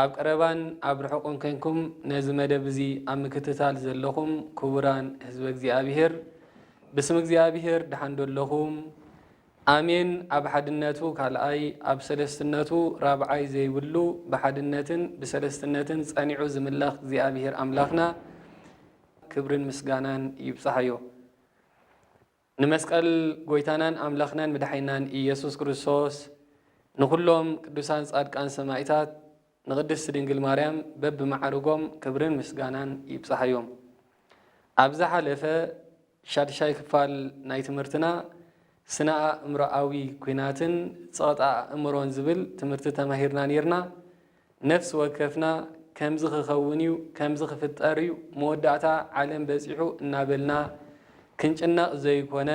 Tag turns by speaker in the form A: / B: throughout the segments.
A: ኣብ ቀረባን ኣብ ርሑቕን ኴንኩም ነዚ መደብ እዚ ኣብ ምክትታል ዘለኹም ክቡራን ህዝበ እግዚኣብሄር ብስም እግዚኣብሄር ደሓን ዶ ኣለኹም? ኣሜን ኣብ ሓድነቱ ካልኣይ ኣብ ሰለስትነቱ ራብዓይ ዘይብሉ ብሓድነትን ብሰለስትነትን ጸኒዑ ዝምለኽ እግዚኣብሄር ኣምላኽና ክብርን ምስጋናን ይብጻሓዮ። ንመስቀል ጎይታናን ኣምላኽናን መድሓኒናን ኢየሱስ ክርስቶስ ንኹሎም ቅዱሳን ጻድቃን ሰማኢታት ንቅድስት ድንግል ማርያም በብማዕርጎም ክብርን ምስጋናን ይብጻሓዮም ኣብ ዝሓለፈ ሻድሻይ ክፋል ናይ ትምህርትና ስነ ኣእምሮኣዊ ኩናትን ጸቕጢ ኣእምሮን ዝብል ትምህርቲ ተማሂርና ኔርና ነፍሲ ወከፍና ከምዚ ክኸውን እዩ፣ ከምዚ ክፍጠር እዩ፣ መወዳእታ ዓለም በጺሑ እናበልና ክንጭነቕ ዘይኮነ፣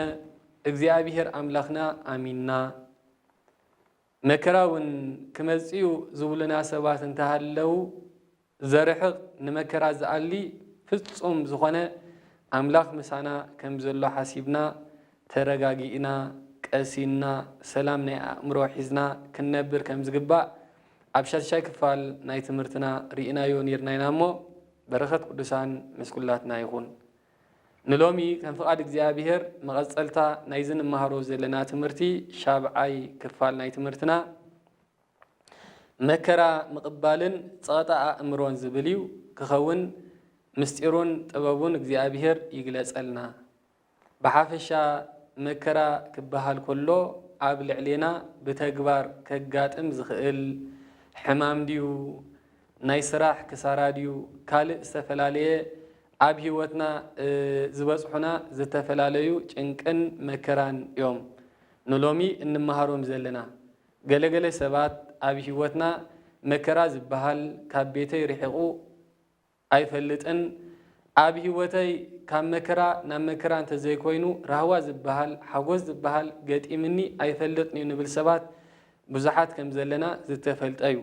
A: እግዚኣብሄር ኣምላኽና ኣሚንና፣ መከራ'ውን ክመጽእ'ዩ ዝብሉና ሰባት እንተሃለዉ፣ ዘርሕቕ ንመከራ ዝኣሊ ፍጹም ዝኾነ ኣምላኽ ምሳና ከም ዘሎ ሓሲብና፣ ተረጋጊእና፣ ቀሲንና፣ ሰላም ናይ ኣእምሮ ሒዝና ክንነብር ከም ዝግባእ ኣብ ሻድሻይ ክፋል ናይ ትምህርትና ሪኢናዮ ኔርና ኢና እሞ በረከት ቅዱሳን ምስ ኩላትና ይኩን። ንሎሚ ከም ፍቃድ እግዚኣብሔር መቀጸልታ ናይዚ ንማሃሮ ዘለና ትምህርቲ ሻብዓይ ክፋል ናይ ትምህርትና መከራ ምቅባልን ጸቀጣ ኣእምሮን ዝብል እዩ ክከውን ምስጢሩን ጥበቡን እግዚኣብሔር ይግለጸልና። ብሓፈሻ መከራ ክበሃል ከሎ ኣብ ልዕሌና ብተግባር ከጋጥም ዝኽእል ሕማም ድዩ፣ ናይ ስራሕ ክሳራ ድዩ ካልእ ዝተፈላለየ ኣብ ህይወትና ዝበጽሑና ዝተፈላለዩ ጭንቅን መከራን እዮም ንሎሚ እንመሃሮም ዘለና። ገለ ገለ ሰባት ኣብ ህይወትና መከራ ዝበሃል ካብ ቤተይ ርሒቑ፣ ኣይፈልጥን ኣብ ሂወተይ ካብ መከራ ናብ መከራ እንተዘይኮይኑ ራህዋ ዝብሃል ሓጎስ ዝብሃል ገጢምኒ ኣይፈልጥንዩ ንብል ሰባት ብዙሓት ከምዘለና ዝተፈልጠዩ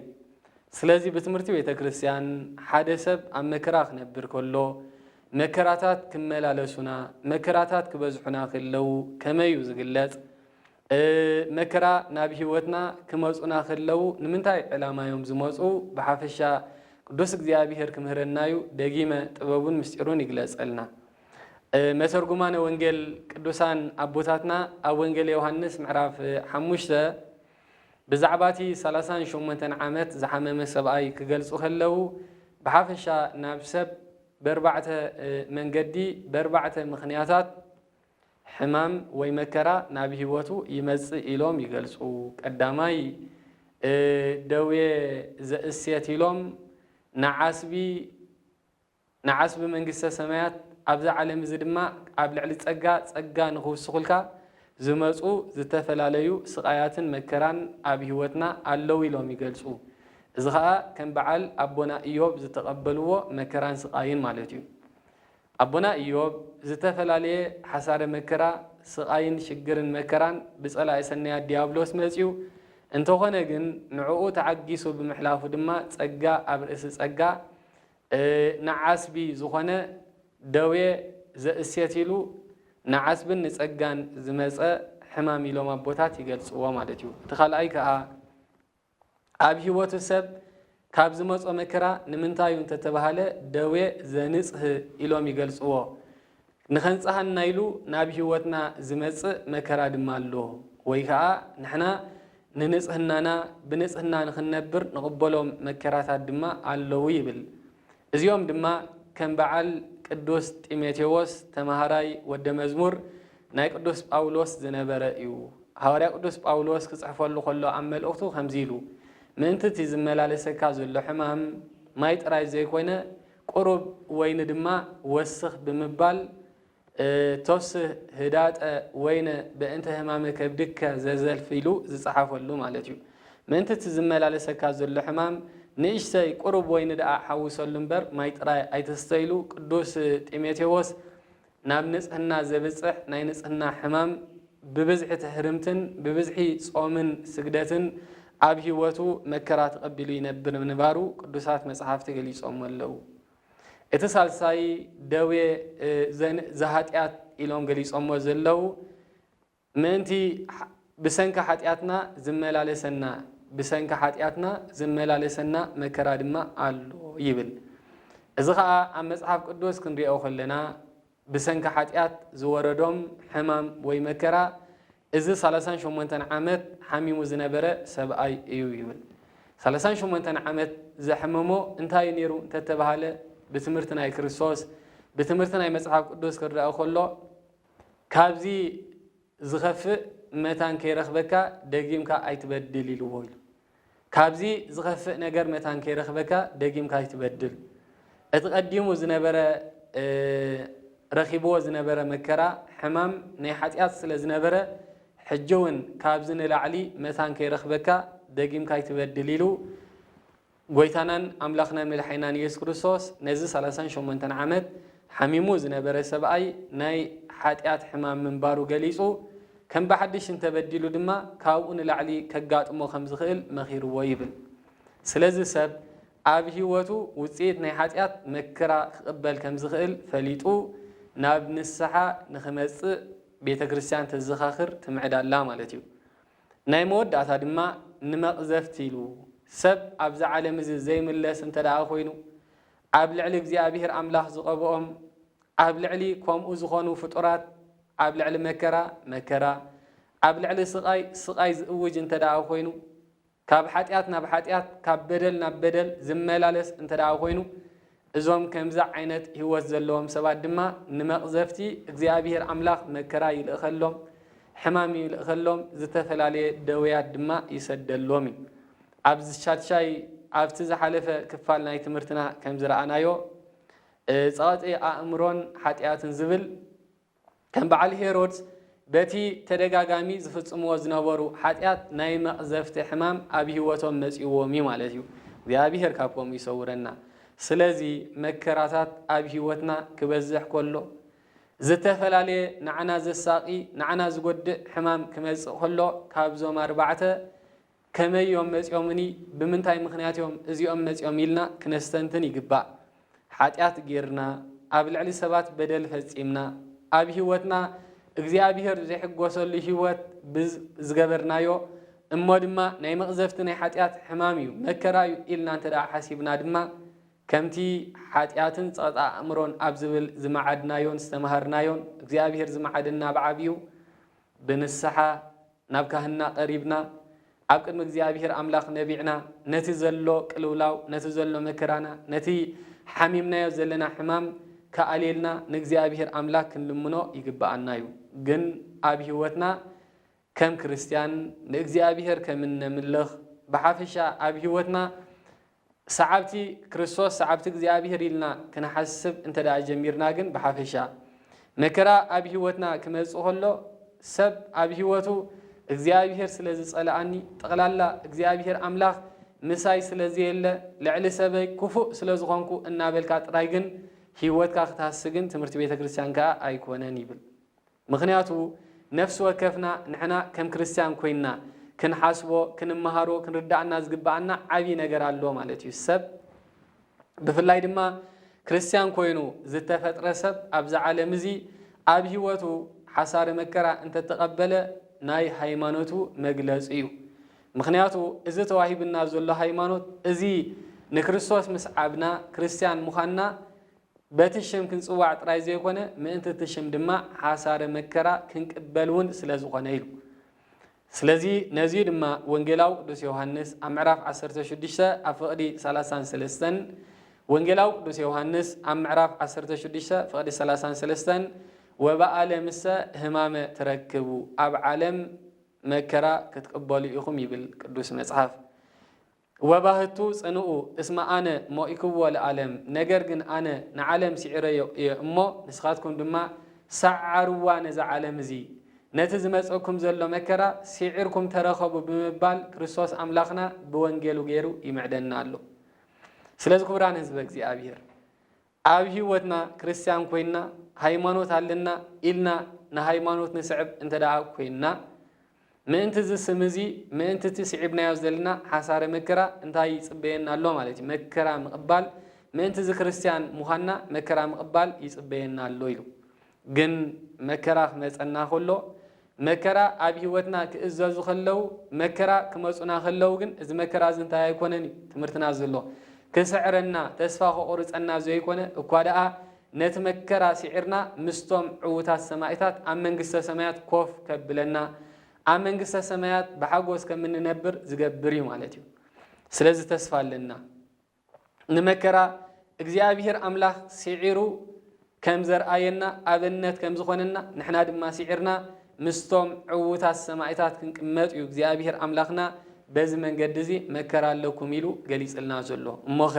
A: ስለዚ ብትምህርቲ ቤተክርስትያን ሓደ ሰብ ኣብ መከራ ክነብር ከሎ መከራታት ክመላለሱና መከራታት ክበዝሑና ክለው ከመይዩ ዝግለጽ መከራ ናብ ሕይወትና ክመጹና ከለዉ ንምንታይ ዕላማ እዮም ዝመጹ ብሓፈሻ ቅዱስ እግዚኣብሔር ክምህረና እዩ ደጊመ ጥበቡን ምስጢሩን ይግለጸልና መተርጉማነ ወንጌል ቅዱሳን ኣቦታትና ኣብ ወንጌል ዮሐንስ ምዕራፍ ሓሙሽተ ብዛዕባ እቲ ሰላሳን ሸሞንተን ዓመት ዝሓመመ ሰብኣይ ክገልጹ ከለዉ ብሓፈሻ ናብ ሰብ በርባዕተ መንገዲ በርባዕተ ምኽንያታት ሕማም ወይ መከራ ናብ ህይወቱ ይመጽእ ኢሎም ይገልጹ። ቀዳማይ፣ እ ደዌ ዘእሴት ኢሎም ንዓስቢ ንዓስቢ መንግስተ ሰማያት ኣብዚ ዓለም እዚ ድማ ኣብ ልዕሊ ጸጋ ጸጋ ንኽውስኹልካ ዝመጹ ዝተፈላለዩ ስቓያትን መከራን ኣብ ህይወትና ኣለዉ ኢሎም ይገልጹ። እዚ ኸኣ ከም በዓል ኣቦና እዮብ ዝተቐበልዎ መከራን ስቓይን ማለት እዩ። ኣቦና እዮብ ዝተፈላለየ ሓሳረ መከራ ስቓይን ሽግርን መከራን ብጸላኢ ሰናያት ድያብሎስ መጺኡ እንተኾነ ግን ንዕኡ ተዓጊሱ ብምሕላፉ ድማ ጸጋ ኣብ ርእሲ ጸጋ ንዓስቢ ዝኾነ ደዌ ዘእሴት ኢሉ ንዓስብን ንጸጋን ዝመጸ ሕማም ኢሎም ኣቦታት ይገልጽዎ ማለት እዩ እቲ ካልኣይ ከኣ ኣብ ሕይወቱ ሰብ ካብ ዝመጾ መከራ ንምንታዩ እንተተባህለ ደዌ ዘንጽህ ኢሎም ይገልጽዎ። ንኸንጽሃና ኢሉ ናብ ሕይወትና ዝመጽእ መከራ ድማ ኣሎ። ወይ ከኣ ንሕና ንንጽህናና ብንጽህና ንኽንነብር ንቕበሎም መከራታት ድማ ኣለዉ ይብል። እዚኦም ድማ ከም በዓል ቅዱስ ጢሞቴዎስ ተማሃራይ ወደ መዝሙር ናይ ቅዱስ ጳውሎስ ዝነበረ እዩ። ሃዋርያ ቅዱስ ጳውሎስ ክጽሕፈሉ ከሎ ኣብ መልእኽቱ ከምዚ ኢሉ ምእንቲ እቲ ዝመላለሰካ ዘሎ ሕማም ማይ ጥራይ ዘይኮነ ቁሩብ ወይኒ ድማ ወስኽ ብምባል እቶስ ህዳጠ ወይነ በእንተ ህማመ ከብድከ ዘዘልፍ ኢሉ ዝጸሓፈሉ ማለት እዩ። ምእንቲ እቲ ዝመላለሰካ ዘሎ ሕማም ንእሽተይ ቁሩብ ወይኒ ደኣ ሓውሰሉ እምበር ማይ ጥራይ ኣይትስተ ኢሉ ቅዱስ ጢሞቴዎስ ናብ ንጽህና ዘብጽሕ ናይ ንጽህና ሕማም ብብዝሒ ትህርምትን ብብዝሒ ጾምን ስግደትን ኣብ ሕይወቱ መከራ ተቐቢሉ ይነብር ምንባሩ ቅዱሳት መጽሓፍቲ ገሊጾሞ ኣለዉ። እቲ ሳልሳይ ደዌ ዘኃጢኣት ኢሎም ገሊጾሞ ዘለዉ ምእንቲ ብሰንኪ ኃጢኣትና ዚመላለሰና ብሰንኪ ኃጢኣትና ዚመላለሰና መከራ ድማ ኣሎ ይብል። እዚ ኸኣ ኣብ መጽሓፍ ቅዱስ ክንርእኦ ከለና ብሰንኪ ሓጢኣት ዝወረዶም ሕማም ወይ መከራ፣ እዚ ሳላሳን ሸሞንተን ዓመት ሓሚሙ ዝነበረ ሰብኣይ እዩ ይብል። ሳላሳን ሸሞንተን ዓመት ዘሕመሞ እንታይ እዩ ነይሩ እንተ ተባህለ፣ ብትምህርቲ ናይ ክርስቶስ፣ ብትምህርቲ ናይ መጽሓፍ ቅዱስ ክርዳእ ከሎ ካብዚ፣ ዝኸፍእ መታን ከይረኽበካ ደጊምካ ኣይትበድል ኢልዎ ኢሉ። ካብዚ ዝኸፍእ ነገር መታን ከይረኽበካ ደጊምካ ኣይትበድል። እቲ ቀዲሙ ዝነበረ ረኺብዎ ዝነበረ መከራ ሕማም ናይ ሓጢኣት ስለ ዝነበረ ሕጂውን ካብዚ ንላዕሊ መታን ከይረኽበካ ደጊምካ ኣይትበድል ኢሉ ጎይታናን ኣምላኽናን መድሓኒናን ኢየሱስ ክርስቶስ ነዚ ሰላሳን ሸሞንተን ዓመት ሓሚሙ ዝነበረ ሰብኣይ ናይ ሓጢኣት ሕማም ምንባሩ ገሊጹ ከም ብሓድሽ እንተበዲሉ ድማ ካብኡ ንላዕሊ ከጋጥሞ ከም ዝኽእል መኺርዎ ይብል። ስለዚ ሰብ ኣብ ሕይወቱ ውጽኢት ናይ ሓጢኣት መክራ ክቕበል ከም ዝኽእል ፈሊጡ ናብ ንስሓ ንኽመጽእ ቤተ ክርስቲያን ተዘኻኽር ትምዕድ ኣላ ማለት እዩ። ናይ መወዳእታ ድማ ንመቕዘፍቲ ኢሉ፣ ሰብ ኣብዚ ዓለም እዚ ዘይምለስ እንተደኣ ኮይኑ፣ ኣብ ልዕሊ እግዚኣብሄር ኣምላኽ ዝቐብኦም፣ ኣብ ልዕሊ ከምኡ ዝኾኑ ፍጡራት፣ ኣብ ልዕሊ መከራ፣ መከራ፣ ኣብ ልዕሊ ስቓይ፣ ስቓይ ዝእውጅ እንተደኣ ኮይኑ፣ ካብ ሓጢኣት ናብ ሓጢኣት፣ ካብ በደል ናብ በደል ዝመላለስ እንተደኣ ኮይኑ፣ እዞም ከምዚ ዓይነት ህይወት ዘለዎም ሰባት ድማ ንመቕዘፍቲ እግዚኣብሄር ኣምላኽ መከራ ይልእኸሎም፣ ሕማም ይልእኸሎም፣ ዝተፈላለየ ደውያት ድማ ይሰደሎም እዩ። ኣብ ዝሻድሻይ ኣብቲ ዝሓለፈ ክፋል ናይ ትምህርትና ከም ዝረኣናዮ፣ ጸቐጢ ኣእምሮን ሓጢኣትን ዝብል ከም በዓል ሄሮድስ በቲ ተደጋጋሚ ዝፍጽምዎ ዝነበሩ ሓጢኣት ናይ መቕዘፍቲ ሕማም ኣብ ህይወቶም መጺእዎም እዩ ማለት እዩ። እግዚኣብሄር ካብ ከምኡ ይሰውረና። ስለዚ መከራታት ኣብ ህይወትና ክበዝሕ ከሎ፣ ዝተፈላለየ ንዓና ዘሳቒ፣ ንዓና ዝጎድእ ሕማም ክመጽእ ከሎ ካብዞም ኣርባዕተ ከመይ እዮም መጺኦምኒ ብምንታይ ምኽንያት እዮም እዚኦም መጺኦም ኢልና ክነስተንትን ይግባእ። ሓጢኣት ጌርና፣ ኣብ ልዕሊ ሰባት በደል ፈጺምና፣ ኣብ ሕይወትና እግዚኣብሔር ዘይሕጎሰሉ ሕይወት ብ ዝገበርናዮ እሞ ድማ ናይ መቕዘፍቲ ናይ ሓጢኣት ሕማም እዩ መከራ እዩ ኢልና እንተ ሓሲብና ድማ ከምቲ ሓጢኣትን ጸቕጢ ኣእምሮን ኣብ ዝብል ዝመዓድናዮን ዝተመሃርናዮን እግዚኣብሔር ዝመዓደና ብዓቢኡ ብንስሓ ናብ ካህንና ቀሪብና፣ ኣብ ቅድሚ እግዚኣብሄር ኣምላኽ ነቢዕና፣ ነቲ ዘሎ ቅልውላው፣ ነቲ ዘሎ መከራና፣ ነቲ ሓሚምናዮ ዘለና ሕማም ክኣልየልና ንእግዚኣብሄር ኣምላክ ክንልምኖ ይግብኣና እዩ። ግን ኣብ ሕይወትና ከም ክርስትያን ንእግዚኣብሄር ከም እነምልኽ፣ ብሓፈሻ ኣብ ሕይወትና ሰዓብቲ ክርስቶስ፣ ሰዓብቲ እግዚኣብሄር ኢልና ክንሓስብ እንተድኣ ጀሚርና ግን ብሓፈሻ፣ መከራ ኣብ ህይወትና ክመጽእ ከሎ፣ ሰብ ኣብ ህይወቱ እግዚኣብሄር ስለ ዝጸልኣኒ፣ ጠቕላላ እግዚኣብሄር ኣምላኽ ምሳይ ስለ ዘየለ፣ ልዕሊ ሰበይ ክፉእ ስለ ዝኾንኩ እናበልካ ጥራይ ግን ህይወትካ ክትሃሲ ግን ትምህርቲ ቤተ ክርስቲያን ከኣ ኣይኮነን ይብል። ምኽንያቱ ነፍሲ ወከፍና ንሕና ከም ክርስትያን ኮይንና ክንሓስቦ፣ ክንመሃሮ፣ ክንርደኣና ዝግበኣና ዓቢ ነገር ኣሎ ማለት እዩ። ሰብ ብፍላይ ድማ ክርስትያን ኮይኑ ዝተፈጥረ ሰብ ኣብዚ ዓለም እዚ ኣብ ህይወቱ ሓሳረ መከራ እንተተቐበለ ናይ ሃይማኖቱ መግለጺ እዩ። ምኽንያቱ እዚ ተዋሂብና ዘሎ ሃይማኖት እዚ ንክርስቶስ ምስዓብና ክርስትያን ምዃንና በቲ ሽም ክንጽዋዕ ጥራይ ዘይኮነ ምእንቲ እቲ ሽም ድማ ሓሳረ መከራ ክንቅበል እውን ስለ ዝኾነ ኢሉ። ስለዚ ነዚ እዩ ድማ ወንጌላዊ ቅዱስ ዮውሃንስ ኣብ ምዕራፍ ዓሰርተ ሽዱሽተ ኣብ ፍቕዲ ሰላሳን ሰለስተን ወንጌላዊ ቅዱስ ዮውሃንስ ኣብ ምዕራፍ ዓሰርተ ሽዱሽተ ፍቕዲ ሰላሳን ሰለስተን ወበኣለምሰ ህማመ ትረክቡ ኣብ ዓለም መከራ ክትቅበሉ ኢኹም ይብል ቅዱስ መጽሓፍ ወባህቱ ጽንኡ እስመ ኣነ ሞኢክዎ ለዓለም ነገር ግን ኣነ ንዓለም ስዒረዮ እየ እሞ ንስኻትኩም ድማ ሰዓርዋ ነዛ ዓለም እዚ ነቲ ዝመጸኩም ዘሎ መከራ ስዒርኩም ተረከቡ ብምባል ክርስቶስ ኣምላኽና ብወንጌሉ ገይሩ ይምዕደና ኣሎ ስለዚ ክቡራን ህዝበ እግዚኣብሔር ኣብ ህይወትና ክርስትያን ኮይንና ሃይማኖት ኣለና ኢልና ንሃይማኖት ንስዕብ እንተደኣ ኮይንና፣ ምእንቲ እዚ ስም እዚ፣ ምእንቲ እቲ ስዒብናዮ ዘለና ሓሳረ መከራ እንታይ ይጽበየና ኣሎ ማለት እዩ። መከራ ምቕባል፣ ምእንቲ እዚ ክርስትያን ምዃንና መከራ ምቕባል ይጽበየና ኣሎ ኢሉ። ግን መከራ ክመጸና ከሎ መከራ ኣብ ህይወትና ክእዘዙ ከለው መከራ ክመጹና ከለው ግን እዚ መከራ እዚ እንታይ ኣይኮነን እዩ ትምህርትና ዘሎ ክስዕረና ተስፋ ከቑርጸና ዘይኮነ እኳ ደኣ ነቲ መከራ ሲዒርና ምስቶም ዕውታት ሰማኢታት ኣብ መንግስተ ሰማያት ኮፍ ከብለና ኣብ መንግስተ ሰማያት ብሓጎስ ከምንነብር ዝገብር እዩ ማለት እዩ ስለዚ ተስፋ ኣለና ንመከራ እግዚኣብሄር ኣምላኽ ስዒሩ ከም ዘርኣየና ኣብነት ከም ዝኾነና ንሕና ድማ ስዒርና ምስቶም ዕዉታት ሰማኢታት ክንቅመጥ እዩ እግዚኣብሄር ኣምላኽና በዚ መንገዲ እዚ መከራ ኣለኩም ኢሉ ገሊጽልና ዘሎ። እሞኸ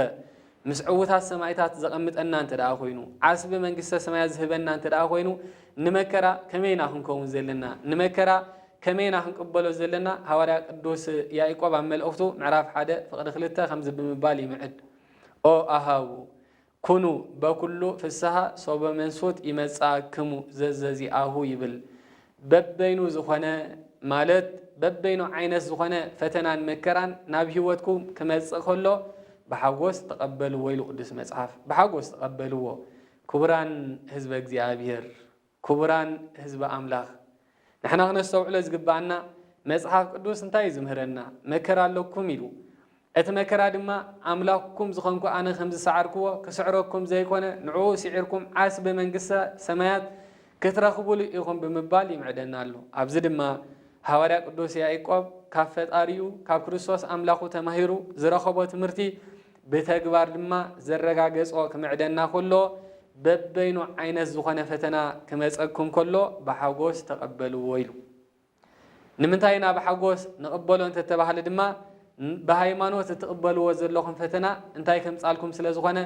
A: ምስ ዕዉታት ሰማኢታት ዘቐምጠና እንተ ደኣ ኮይኑ ዓስቢ መንግስተ ሰማያት ዝህበና እንተ ደኣ ኮይኑ ንመከራ ከመይ ኢና ክንከውን ዘለና ንመከራ ከመይ ኢና ክንቅበሎ ዘለና? ሃዋርያ ቅዱስ ያኢቆብ ኣብ መልእኽቱ ምዕራፍ ሓደ ፍቕዲ ክልተ ከምዚ ብምባል ይምዕድ፣ ኦ ኣኀው፣ ኩኑ በኵሉ ፍስሃ ሶበ መንሱት ይመጽኣክሙ ዘዘዚኣሁ ይብል። በበይኑ ዝኾነ ማለት በበይኑ ዓይነት ዝኾነ ፈተናን መከራን ናብ ሕይወትኩም ክመጽእ ከሎ ብሓጐስ ተቐበልዎ ኢሉ ቅዱስ መጽሓፍ። ብሓጐስ ተቐበልዎ ክቡራን ሕዝበ እግዚኣብሔር። ክቡራን ህዝቢ ኣምላኽ፣ ንሕና ክነስተውዕሎ ዝግብኣና፣ መጽሓፍ ቅዱስ እንታይ እዩ ዝምህረና? መከራ ኣሎኩም ኢሉ። እቲ መከራ ድማ፣ ኣምላኽኩም ዝኸንኩ ኣነ ከም ዝሰዓርክዎ፣ ክስዕረኩም ዘይኮነ፣ ንዕኡ ስዒርኩም ዓስቢ መንግስተ ሰማያት ክትረኽቡሉ ኢኹም ብምባል ይምዕደና ኣሎ። ኣብዚ ድማ ሃዋርያ ቅዱስ ያኢቆብ ካብ ፈጣሪኡ፣ ካብ ክርስቶስ ኣምላኹ ተማሂሩ ዝረኸቦ ትምህርቲ ብተግባር ድማ ዘረጋገጾ ክምዕደና ከሎ፣ በበይኑ ዓይነት ዝኾነ ፈተና ክመጸኩም ከሎ ብሓጎስ ተቐበልዎ ኢሉ። ንምንታይ ኢና ብሓጎስ ንቕበሎ እንተተባህለ ድማ፣ ብሃይማኖት እትቕበልዎ ዘለኹም ፈተና እንታይ ከምጻልኩም ስለ ዝኾነ፣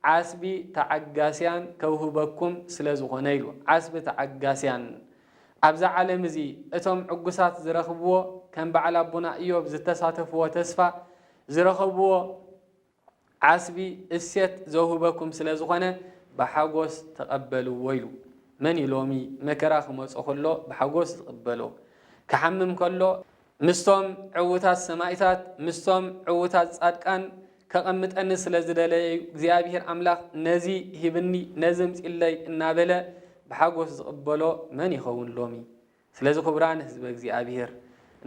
A: ዓስቢ ተዓጋስያን ከውህበኩም ስለ ዝኾነ ኢሉ። ዓስቢ ተዓጋስያን። ኣብዛ ዓለም እዚ እቶም ዕጉሳት ዝረኽብዎ ከም በዓል ኣቦና እዮብ ዝተሳተፍዎ ተስፋ ዝረኸብዎ ዓስቢ እሴት ዘውህበኩም ስለ ዝኾነ ብሓጎስ ተቐበልዎ ኢሉ። መን እዩ ሎሚ መከራ ክመጾ ከሎ ብሓጎስ ዝቕበሎ? ክሓምም ከሎ? ምስቶም ዕዉታት ሰማኢታት፣ ምስቶም ዕዉታት ጻድቃን ከቐምጠኒ ስለ ዝደለየ እዩ እግዚኣብሄር ኣምላኽ ነዚ ሂብኒ ነዚ ኣምጺለይ እናበለ ብሓጎስ ዝቕበሎ መን ይኸውን ሎሚ? ስለዚ ክቡራን ህዝበ እግዚኣብሔር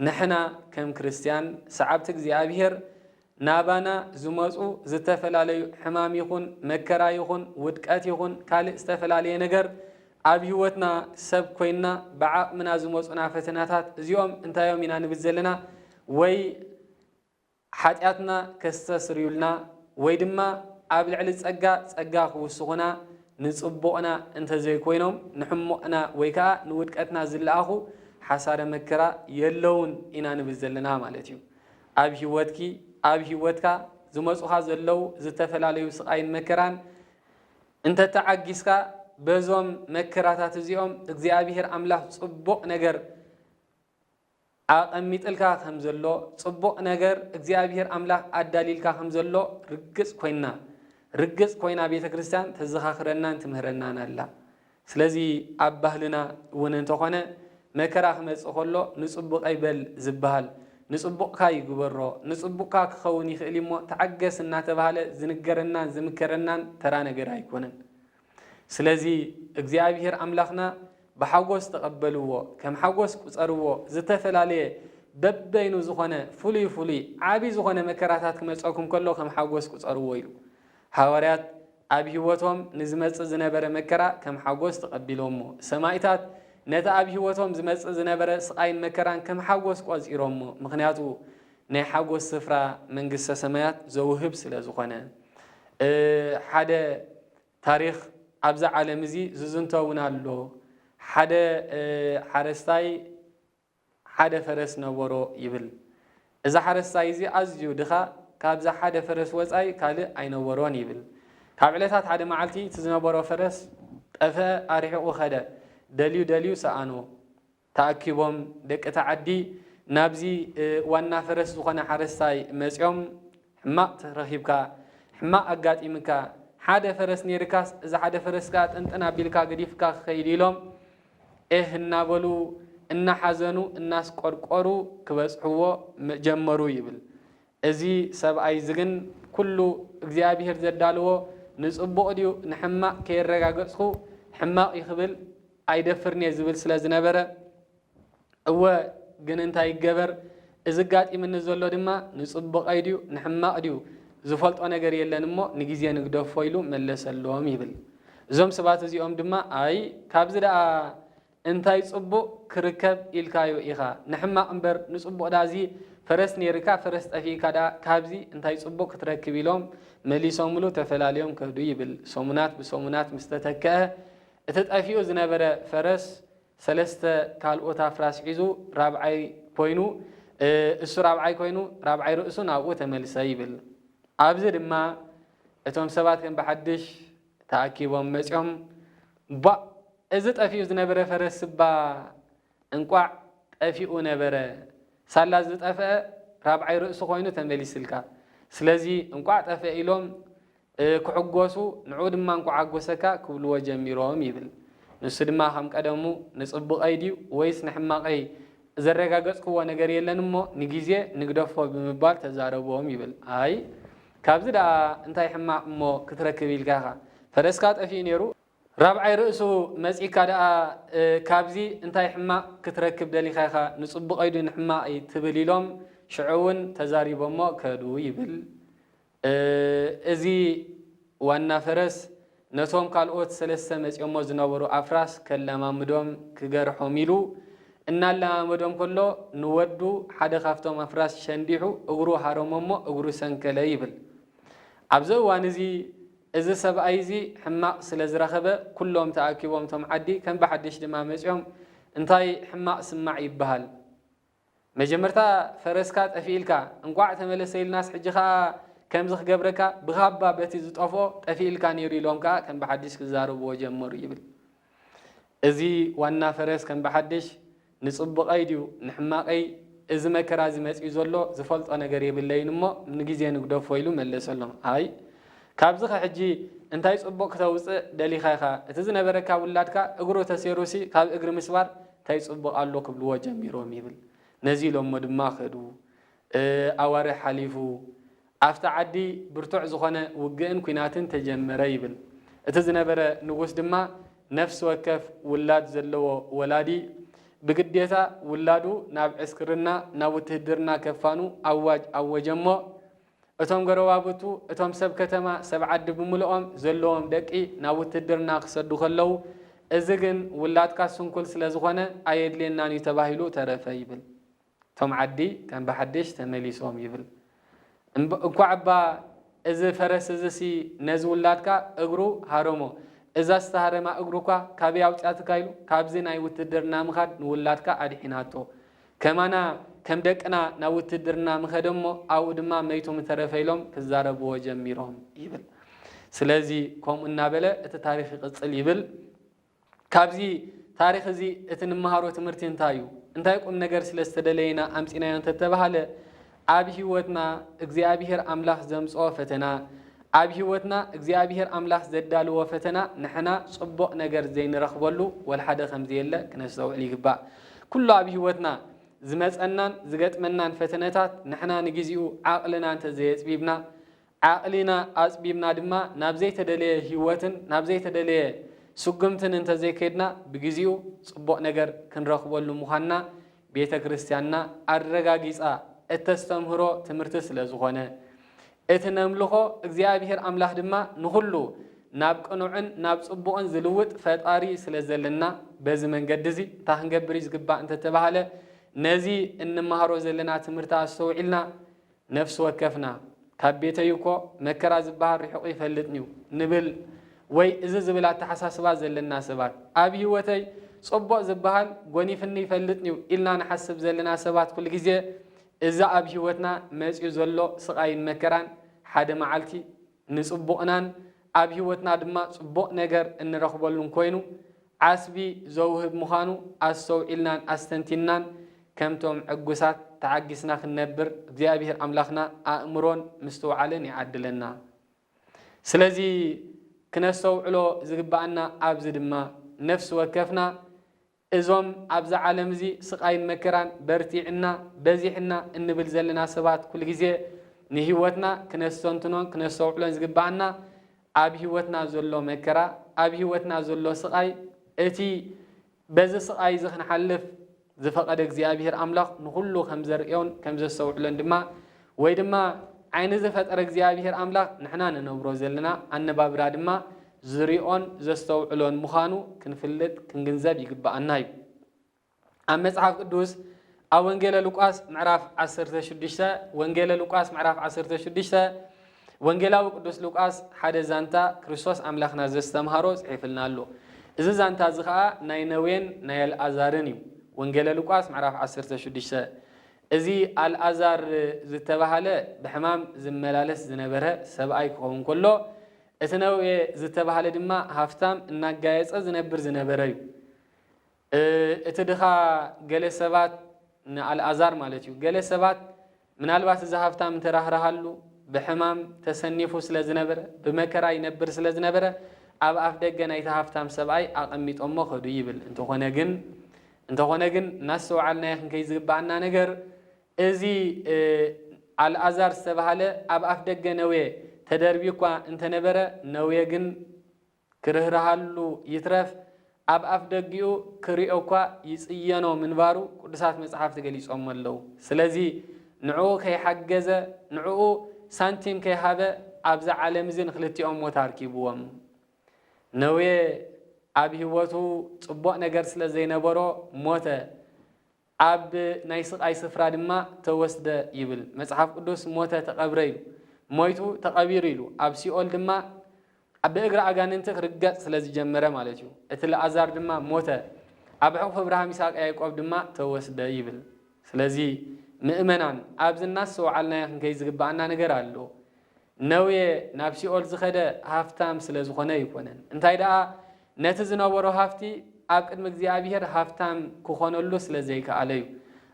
A: ንሕና ከም ክርስትያን ሰዓብቲ እግዚኣብሔር ናባና ዝመፁ ዝተፈላለዩ ሕማም ይኹን መከራ ይኹን ውድቀት ይኹን ካልእ ዝተፈላለየ ነገር ኣብ ህይወትና ሰብ ኮይንና ብዓቕምና ዝመፁና ፈተናታት እዚኦም እንታይ እዮም ኢና ንብል ዘለና ወይ ሓጢኣትና ከስተስርዩልና ወይ ድማ ኣብ ልዕሊ ጸጋ ጸጋ ክውስኹና ንጽቡቕና እንተ ዘይኮይኖም ንሕሙቕና ወይ ከኣ ንውድቀትና ዝለኣኹ ሓሳረ መከራ የለዉን ኢና ንብል ዘለና ማለት እዩ። ኣብ ህይወትኪ ኣብ ህይወትካ ዝመጹኻ ዘለዉ ዝተፈላለዩ ስቓይን መከራን እንተ ተዓጊስካ በዞም መከራታት እዚኦም እግዚኣብሄር ኣምላኽ ጽቡቕ ነገር ኣቐሚጥልካ ከም ዘሎ፣ ጽቡቕ ነገር እግዚኣብሄር ኣምላኽ ኣዳልዩልካ ከም ዘሎ ርግጽ ኮይና ርግጽ ኮይና ቤተ ክርስቲያን ተዘኻኽረናን ትምህረናን ኣላ። ስለዚ ኣብ ባህልና እውን እንተኾነ መከራ ክመጽእ ከሎ ንጽቡቐይ በል ዝበሃል፣ ንጽቡቕካ ይግበሮ፣ ንጽቡቕካ ክኸውን ይኽእል እዩ'ሞ ተዓገስ እናተባህለ ዝንገረናን ዝምከረናን ተራ ነገር ኣይኮነን። ስለዚ እግዚኣብሄር ኣምላኽና ብሓጎስ ተቐበልዎ፣ ከም ሓጎስ ቍጸርዎ፣ ዝተፈላለየ በበይኑ ዝኾነ ፍሉይ ፍሉይ ዓቢ ዝኾነ መከራታት ክመጸኩም ከሎ ከም ሓጎስ ቍጸርዎ ኢሉ። ሃዋርያት ኣብ ሕይወቶም ንዝመጽእ ዝነበረ መከራ ከም ሓጎስ ተቐቢሎሞ። ሰማኢታት ነቲ ኣብ ሕይወቶም ዝመጽእ ዝነበረ ስቓይን መከራን ከም ሓጎስ ቈጺሮሞ ምኽንያቱ ናይ ሓጎስ ስፍራ መንግስተ ሰማያት ዘውህብ ስለ ዝኾነ። እ ሓደ ታሪኽ ኣብዚ ዓለም እዚ ዝዝንቶ እውን ኣሎ። ሓደ እ ሓረስታይ ሓደ ፈረስ ነበሮ ይብል። እዚ ሓረስታይ እዚ ኣዝዩ ድኻ ካብዚ ሓደ ፈረስ ወጻኢ ካልእ ኣይነበሮን ይብል። ካብ ዕለታት ሓደ መዓልቲ እቲ ዝነበሮ ፈረስ ጠፍአ ኣርሒቑ ከደ። ደልዩ ደልዩ ሰኣኖ። ተኣኪቦም ደቂ እታ ዓዲ ናብዚ ዋና ፈረስ ዝኾነ ሓረስታይ መጽዮም ሕማቕ ረኺብካ፣ ሕማቕ ኣጋጢምካ፣ ሓደ ፈረስ ነይርካስ እዚ ሓደ ፈረስ ከኣ ጥንጥን ኣቢልካ ገዲፍካ ክኸይድ ኢሎም ኤህ እናበሉ እናሓዘኑ እናስቆርቆሩ ክበጽሕዎ ጀመሩ ይብል። እዚ ሰብኣይ እዚ ግን ኩሉ እግዚኣብሄር ዘዳለዎ ንጽቡቕ ድዩ ንሕማቕ ከየረጋገጽኩ ሕማቕ እዩ ክብል ኣይደፍርን እየ ዝብል ስለ ዝነበረ እወ ግን እንታይ ይገበር እዚ ኣጋጢምኒ ዘሎ ድማ ንጽቡቐይ ድዩ ንሕማቕ ድዩ ዝፈልጦ ነገር የለን እሞ ንግዜ ንግደፎ ኢሉ መለሰሎም ይብል። እዞም ሰባት እዚኦም ድማ ኣይ ካብዚ ደኣ እንታይ ጽቡቅ ክርከብ ኢልካዮ ኢካ ንሕማቅ እምበር ንጽቡቅ ዳዚ ፈረስ ኔርካ ፈረስ ጠፊእካ ድኣ ካብዚ እንታይ ጽቡቅ ክትረክብ ኢሎም መሊሶምሉ ተፈላልዮም ከዱ ይብል ሰሙናት ብሰሙናት ምስ ተተከኣ እቲ ጠፊኡ ዝነበረ ፈረስ ሰለስተ ካልኦት ኣፍራስ ሒዙ ራብዓይ ኮይኑ እሱ ራብዓይ ኮይኑ ራብዓይ ርእሱ ናብኡ ተመልሰ ይብል ኣብዚ ድማ እቶም ሰባት ከም ብሓድሽ ተኣኪቦም መጽዮም ቧእ እዚ ጠፊኡ ዝነበረ ፈረስ'ባ እንቋዕ ጠፊኡ ነበረ ሳላ ዝጠፍኣ ራብዓይ ርእሱ ኮይኑ ተመሊስልካ ስለዚ እንቋዕ ጠፍኣ ኢሎም ክሕጎሱ ንዕኡ ድማ እንቋዕ ሓጎሰካ ክብልዎ ጀሚሮም ይብል ንሱ ድማ ከም ቀደሙ ንጽቡቐይ ድዩ ወይስ ንሕማቐይ ዘረጋገጽክዎ ነገር የለን እሞ ንግዜ ንግደፎ ብምባል ተዛረቦም ይብል ኣይ ካብዚ ደኣ እንታይ ሕማቅ እሞ ክትረክብ ኢልካ ኢኻ ፈረስካ ጠፊኡ ኔሩ። ራብዓይ ርእሱ መጺካ ደኣ ካብዚ እንታይ ሕማቅ ክትረክብ ደሊኻ ኢኻ ንጽቡቀይ ዲዩ ንሕማቀይ ትብል ኢሎም ሽዑ ውን ተዛሪቦሞ ከዱ ይብል እዚ ዋና ፈረስ። ነቶም ካልኦት ሰለስተ መጺኦሞ ዝነበሩ ኣፍራስ ከላማምዶም ክገርሖም ኢሉ እናላማመዶም ከሎ ንወዱ ሓደ ካብቶም ኣፍራስ ሸንዲሑ እግሩ ሃረሞሞ እግሩ ሰንከለ ይብል። ኣብዚ እዋን እዚ እዚ ሰብኣይ እዚ ሕማቕ ስለ ዝረኸበ ኩሎም ተኣኪቦም እቶም ዓዲ ከም ብሓድሽ ድማ መጺኦም እንታይ ሕማቕ ስማዕ ይበሃል። መጀመርታ ፈረስካ ጠፊእልካ እንቋዕ ተመለሰ ኢልናስ ሕጂ ከኣ ከምዚ ክገብረካ ብካባ በቲ ዝጠፍኦ ጠፊእልካ ነይሩ ኢሎም ከኣ ከም ብሓድሽ ክዛረብዎ ጀመሩ ይብል። እዚ ዋና ፈረስ ከም ብሓድሽ ንጽቡቐይ ድዩ ንሕማቐይ እዚ መከራ እዚ መጺኡ ዘሎ ዝፈልጦ ነገር የብለይን እሞ ንግዜ ንግደፎ ኢሉ መለሰሎም። ኣይ ካብዚ ከሕጂ እንታይ ጽቡቕ ክተውጽእ ደሊኻ ኢኻ እቲ ዝነበረካ ውላድካ እግሩ ተሴሩሲ ካብ እግሪ ምስባር ታይ ፅቡቅ ኣሎ ክብልዎ ጀሚሮም ይብል ነዚ ኢሎሞ ድማ ከዱ ኣዋርሕ ሓሊፉ ኣፍቲ ዓዲ ብርቱዕ ዝኮነ ውግእን ኩናትን ተጀመረ ይብል እቲ ዝነበረ ንጉስ ድማ ነፍሲ ወከፍ ውላድ ዘለዎ ወላዲ ብግዴታ ውላዱ ናብ ዕስክርና ናብ ውትህድርና ከፋኑ ኣዋጅ ኣወጀሞ እቶም ጎረባብቱ፣ እቶም ሰብ ከተማ፣ ሰብ ዓዲ ብምሉኦም ዘለዎም ደቂ ናብ ውትህድርና ክሰዱ ከለዉ፣ እዚ ግን ውላድካ ስንኩል ስለ ዝኾነ ኣየድልየናን እዩ ተባሂሉ ተረፈ ይብል። እቶም ዓዲ ከም ብሓድሽ ተመሊሶም ይብል። እንኳዕ'ባ እዚ ፈረስ እዚሲ ነዚ ውላድካ እግሩ ሃረሞ፣ እዛ ዝተሃረማ እግሩ'ኳ ካበይ ኣውጺኣትካ ኢሉ ካብዚ ናይ ውትህድርና ምኻድ ንውላድካ ኣድሒናቶ። ከማና ከም ደቅና ናብ ውትድርና ምኸደ እሞ ኣብኡ ድማ መይቱ ምተረፈ ኢሎም ክዛረብዎ ጀሚሮም ይብል። ስለዚ ከምኡ እናበለ እቲ ታሪኽ ይቕጽል ይብል። ካብዚ ታሪኽ እዚ እቲ ንመሃሮ ትምህርቲ እንታይ እዩ? እንታይ ቁም ነገር ስለ ዝተደለየ ኢና ኣምጺእናዮ እንተተባህለ ኣብ ሕይወትና እግዚኣብሔር ኣምላኽ ዘምጽኦ ፈተና ኣብ ሕይወትና እግዚኣብሔር ኣምላኽ ዘዳልዎ ፈተና ንሕና ጽቡቕ ነገር ዘይንረኽበሉ ወልሓደ ከምዘየለ ክነስተውዕል ይግባእ። ኩሉ ኣብ ሕይወትና ዝመጸናን ዝገጥመናን ፈተነታት ንሕና ንጊዜኡ ዓቕልና እንተዘየጽቢብና ዓቕሊና ኣጽቢብና ድማ ናብ ዘይተደለየ ህይወትን ናብ ዘይተደለየ ስጉምትን እንተ ዘይከድና ብግዜኡ ጽቡቕ ነገር ክንረኽበሉ ምዃንና ቤተ ክርስቲያንና ኣረጋጊጻ እተስተምህሮ ትምህርቲ ስለ ዝኾነ እቲ ነምልኾ እግዚኣብሔር ኣምላኽ ድማ ንኹሉ ናብ ቅኑዕን ናብ ጽቡቕን ዝልውጥ ፈጣሪ ስለ ዘለና በዚ መንገዲ እዚ እንታይ ክንገብር እዩ ዝግባእ እንተተባህለ ነዚ እንመሃሮ ዘለና ትምህርቲ ኣስተውዒልና ነፍሲ ወከፍና፣ ካብ ቤተይ እኮ መከራ ዝበሃል ርሒቑ ይፈልጥን'ዩ ንብል ወይ እዚ ዝብል ኣተሓሳስባ ዘለና ሰባት፣ ኣብ ህይወተይ ጽቡቕ ዝበሃል ጎኒፍኒ ይፈልጥን'ዩ ኢልና ንሓስብ ዘለና ሰባት ኩሉ ግዜ እዚ ኣብ ህይወትና መጺኡ ዘሎ ስቓይን መከራን ሓደ መዓልቲ ንጽቡቕናን ኣብ ህይወትና ድማ ጽቡቕ ነገር እንረኽበሉን ኮይኑ ዓስቢ ዘውህብ ምዃኑ ኣስተውዒልናን ኣስተንቲንናን ከምቶም ዕጉሳት ተዓጊስና ክንነብር እግዚኣብሄር ኣምላኽና ኣእምሮን ምስትውዓልን ይዓድለና። ስለዚ ክነስተውዕሎ ዝግብኣና ኣብዚ ድማ ነፍሲ ወከፍና እዞም ኣብዛ ዓለም እዚ ስቓይን መከራን በርቲዕና በዚሕና እንብል ዘለና ሰባት ኩልግዜ ንህይወትና ክነስተንትኖን ክነስተውዕሎን ዝግብኣና ኣብ ህይወትና ዘሎ መከራ፣ ኣብ ህይወትና ዘሎ ስቓይ፣ እቲ በዚ ስቓይ እዚ ክንሓልፍ ዝፈቐደ እግዚኣብሄር ኣምላኽ ንኹሉ ከም ዘርእዮን ከም ዘስተውዕሎን ድማ ወይ ድማ ዓይኒ ዝፈጠረ እግዚኣብሄር ኣምላኽ ንሕና ንነብሮ ዘለና ኣነባብራ ድማ ዝሪኦን ዘስተውዕሎን ምዃኑ ክንፍልጥ ክንግንዘብ ይግበኣና እዩ። ኣብ መጽሓፍ ቅዱስ ኣብ ወንጌለ ሉቃስ ምዕራፍ 16 ወንጌለ ሉቃስ ምዕራፍ 16 ወንጌላዊ ቅዱስ ሉቃስ ሓደ ዛንታ ክርስቶስ ኣምላኽና ዘስተምሃሮ ጽሒፍልና ኣሎ። እዚ ዛንታ እዚ ኸኣ ናይ ነዌን ናይ ኣልኣዛርን እዩ። ወንጌለ ሉቃስ ምዕራፍ 16 እዚ ኣልኣዛር ዝተባህለ ብሕማም ዝመላለስ ዝነበረ ሰብኣይ ክኸውን ከሎ እቲ ነዌ ዝተባህለ ድማ ሃፍታም እናጋየጸ ዝነብር ዝነበረ እዩ። እቲ ድኻ ገለ ሰባት፣ ንኣልኣዛር ማለት እዩ፣ ገለ ሰባት ምናልባት እዚ ሃብታም እንተ ራህርሃሉ፣ ብሕማም ተሰኒፉ ስለ ዝነበረ፣ ብመከራ ይነብር ስለ ዝነበረ፣ ኣብ ኣፍደገ ናይቲ ሃብታም ሰብኣይ ኣቐሚጦሞ ከዱ ይብል። እንተኾነ ግን እንተኾነ ግን እናስተውዓልናዮ ክንከይድ ዝግብኣና ነገር፣ እዚ ኣልኣዛር ዝተባህለ ኣብ ኣፍደገ ነዌ ተደርብዩኳ እንተ ነበረ፣ ነዌ ግን ክርህርሃሉ ይትረፍ ኣብ ኣፍደጊኡ ክሪኦ'ኳ ይጽየኖ ምንባሩ ቅዱሳት መጽሓፍቲ ገሊጾሞ ኣለዉ። ስለዚ ንዕኡ ከይሓገዘ ንዕኡ ሳንቲም ከይሃበ ኣብዛ ዓለም'ዚ ንኽልቲኦም ሞት ኣርኪብዎም። ነዌ ኣብ ህይወቱ ጽቡቕ ነገር ስለ ዘይነበሮ ሞተ። ኣብ ናይ ስቓይ ስፍራ ድማ ተወስደ ይብል መጽሓፍ ቅዱስ ሞተ ተቐብረ ኢሉ ሞይቱ ተቐቢሩ ኢሉ ኣብ ሲኦል ድማ ብእግሪ ኣጋንንቲ ክርገጽ ስለ ዝጀመረ ማለት እዩ እቲ ላኣዛር ድማ ሞተ ኣብ ሕቑፊ እብርሃም ይስሃቅ ያይቆብ ድማ ተወስደ ይብል ስለዚ ምእመናን ኣብዚ እናስተውዓልናዮ ክንከይድ ዝግብኣና ነገር ኣሎ ነውየ ናብ ሲኦል ዝኸደ ሃፍታም ስለ ዝኾነ ኣይኮነን እንታይ ደኣ ነቲ ዝነበሮ ሃፍቲ ኣብ ቅድሚ እግዚኣብሄር ሃፍታም ክኾነሉ ስለ ዘይከኣለ እዩ።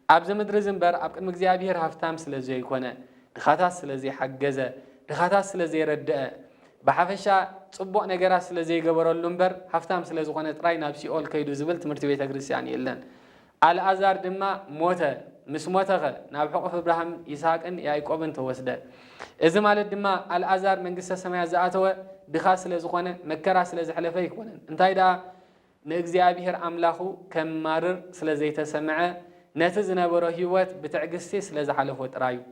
A: ኣብዚ ምድሪ እዚ እምበር ኣብ ቅድሚ እግዚኣብሄር ሃፍታም ስለ ዘይኮነ፣ ድኻታት ስለ ዘይሓገዘ፣ ድኻታት ስለ ዘይረደኣ፣ ብሓፈሻ ጽቡቕ ነገራት ስለ ዘይገበረሉ እምበር ሃፍታም ስለ ዝኾነ ጥራይ ናብ ሲኦል ከይዱ ዝብል ትምህርቲ ቤተ ክርስቲያን የለን። ኣልኣዛር ድማ ሞተ፣ ምስ ሞተኸ ናብ ሕቑፍ እብራሃም፣ ይስሃቅን ያእቆብን ተወስደ። እዚ ማለት ድማ ኣልኣዛር መንግስተ ሰማያት ዝኣተወ ድኻ ስለ ዝኾነ መከራ ስለ ዘሕለፈ ኣይኮነን፣ እንታይ ደኣ ንእግዚኣብሄር ኣምላኹ ከማርር ስለ ዘይተሰምዐ ነቲ ዝነበሮ ህይወት ብትዕግስቲ ስለ ዝሓለፎ ጥራይ እዩ።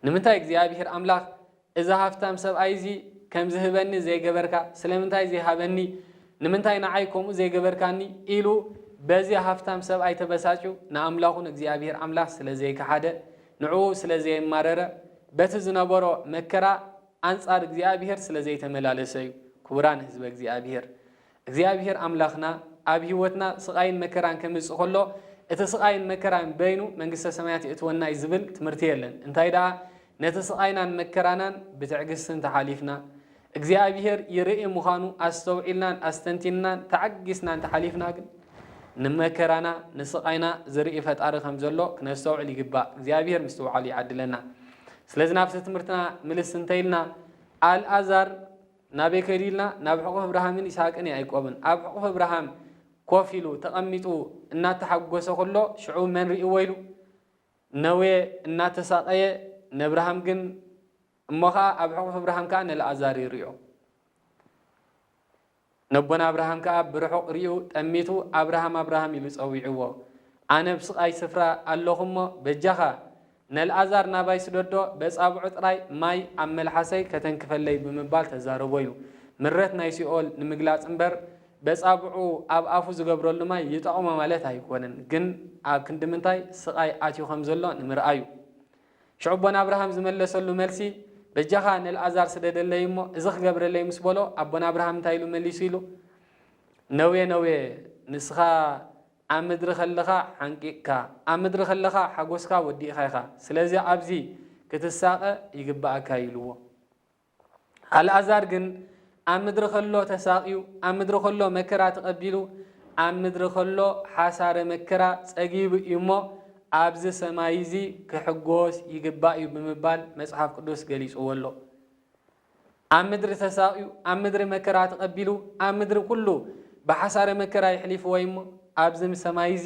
A: ንምንታይ እግዚኣብሄር ኣምላኽ እዚ ሃፍታም ሰብኣይ እዚ ከም ዝህበኒ ዘይገበርካ? ስለምንታይ ዘይሃበኒ? ንምንታይ ንዓይ ከምኡ ዘይገበርካኒ? ኢሉ በዚ ሃፍታም ሰብኣይ ተበሳጭዩ ንኣምላኹ ንእግዚኣብሄር ኣምላኽ ስለ ዘይከሓደ፣ ንዕኡ ስለ ዘየማረረ፣ በቲ ዝነበሮ መከራ ኣንጻር እግዚኣብሄር ስለ ዘይተመላለሰ እዩ። ክቡራን ህዝበ እግዚኣብሄር! እግዚኣብሄር ኣምላኽና ኣብ ህይወትና ስቓይን መከራን ከምጽእ ከሎ እቲ ስቓይን መከራን በይኑ መንግስተ ሰማያት የእትወና እዩ ዝብል ትምህርቲ የለን። እንታይ ደኣ ነቲ ስቓይናን መከራናን ብትዕግስቲ እንተሓሊፍና እግዚኣብሄር ይርኢ ምዃኑ ኣስተውዒልናን ኣስተንቲንናን ተዓጊስና እንተሓሊፍና ግን ንመከራና ንስቓይና ዝርኢ ፈጣሪ ከም ዘሎ ክነስተውዕል ይግባእ። እግዚኣብሄር ምስትውዓሉ ይዓድለና። ስለዚ ናብቲ ትምህርትና ምልስ እንተኢልና ኣልኣዛር ናበይ ከይዱ ኢልና ናብ ሕቑፊ ኣብርሃምን ይስሃቅን ያኢቆብን ኣብ ሕቑፊ ኣብርሃም ኮፍ ኢሉ ተቐሚጡ እናተሓጎሰ ከሎ ሽዑ መን ሪእዎ ኢሉ ነዌ እናተሳቐየ ነኣብርሃም ግን እሞ ከኣ ኣብ ሕቑፊ ኣብርሃም ከኣ ነልኣዛር ይሪኦ ነቦና ኣብርሃም ከኣ ብርሑቕ ሪኡ ጠሚቱ ኣብርሃም ኣብርሃም ኢሉ ጸዊዕዎ ኣነ ኣብስቓይ ስፍራ ኣለኹ እሞ በጃኻ ነልኣዛር ናባይ ስደዶ በጻብዑ ጥራይ ማይ ኣብ መልሓሰይ ከተንክፈለይ ብምባል ተዛረቦዩ። ምረት ናይ ሲኦል ንምግላጽ እምበር በጻብዑ ኣብ ኣፉ ዝገብረሉ ማይ ይጠቕሞ ማለት ኣይኮነን ግን ኣብ ክንዲ ምንታይ ስቓይ ኣትዩ ከም ዘሎ ንምርኣዩ። ሽዑቦ ናብርሃም ዝመለሰሉ መልሲ በጃኻ ነልኣዛር ስደደለይ እሞ እዚ ክገብረለይ ምስ በሎ ኣቦናብርሃም እንታይ ኢሉ መሊሱ ኢሉ ነውየ ነውየ ንስኻ ኣብ ምድሪ ከለኻ ሓንቂቅካ ኣብ ምድሪ ከለኻ ሓጎስካ ወዲእኻ ኢኻ ስለዚ ኣብዚ ክትሳቀ ይግበኣካ እዩ ኢልዎ። ኣልኣዛር ግን ኣብ ምድሪ ከሎ ተሳቅዩ ኣብ ምድሪ ከሎ መከራ ተቀቢሉ ኣብ ምድሪ ከሎ ሓሳረ መከራ ጸጊቡ እዩ እሞ ኣብዚ ሰማይ እዚ ክሕጎስ ይግባእ እዩ ብምባል መጽሓፍ ቅዱስ ገሊጽዎ ኣሎ። ኣብ ምድሪ ተሳቕዩ፣ ኣብ ምድሪ መከራ ተቐቢሉ፣ ኣብ ምድሪ ኩሉ ብሓሳረ መከራ የሕሊፍዎ እዩሞ፣ ኣብዚ ሰማይ እዚ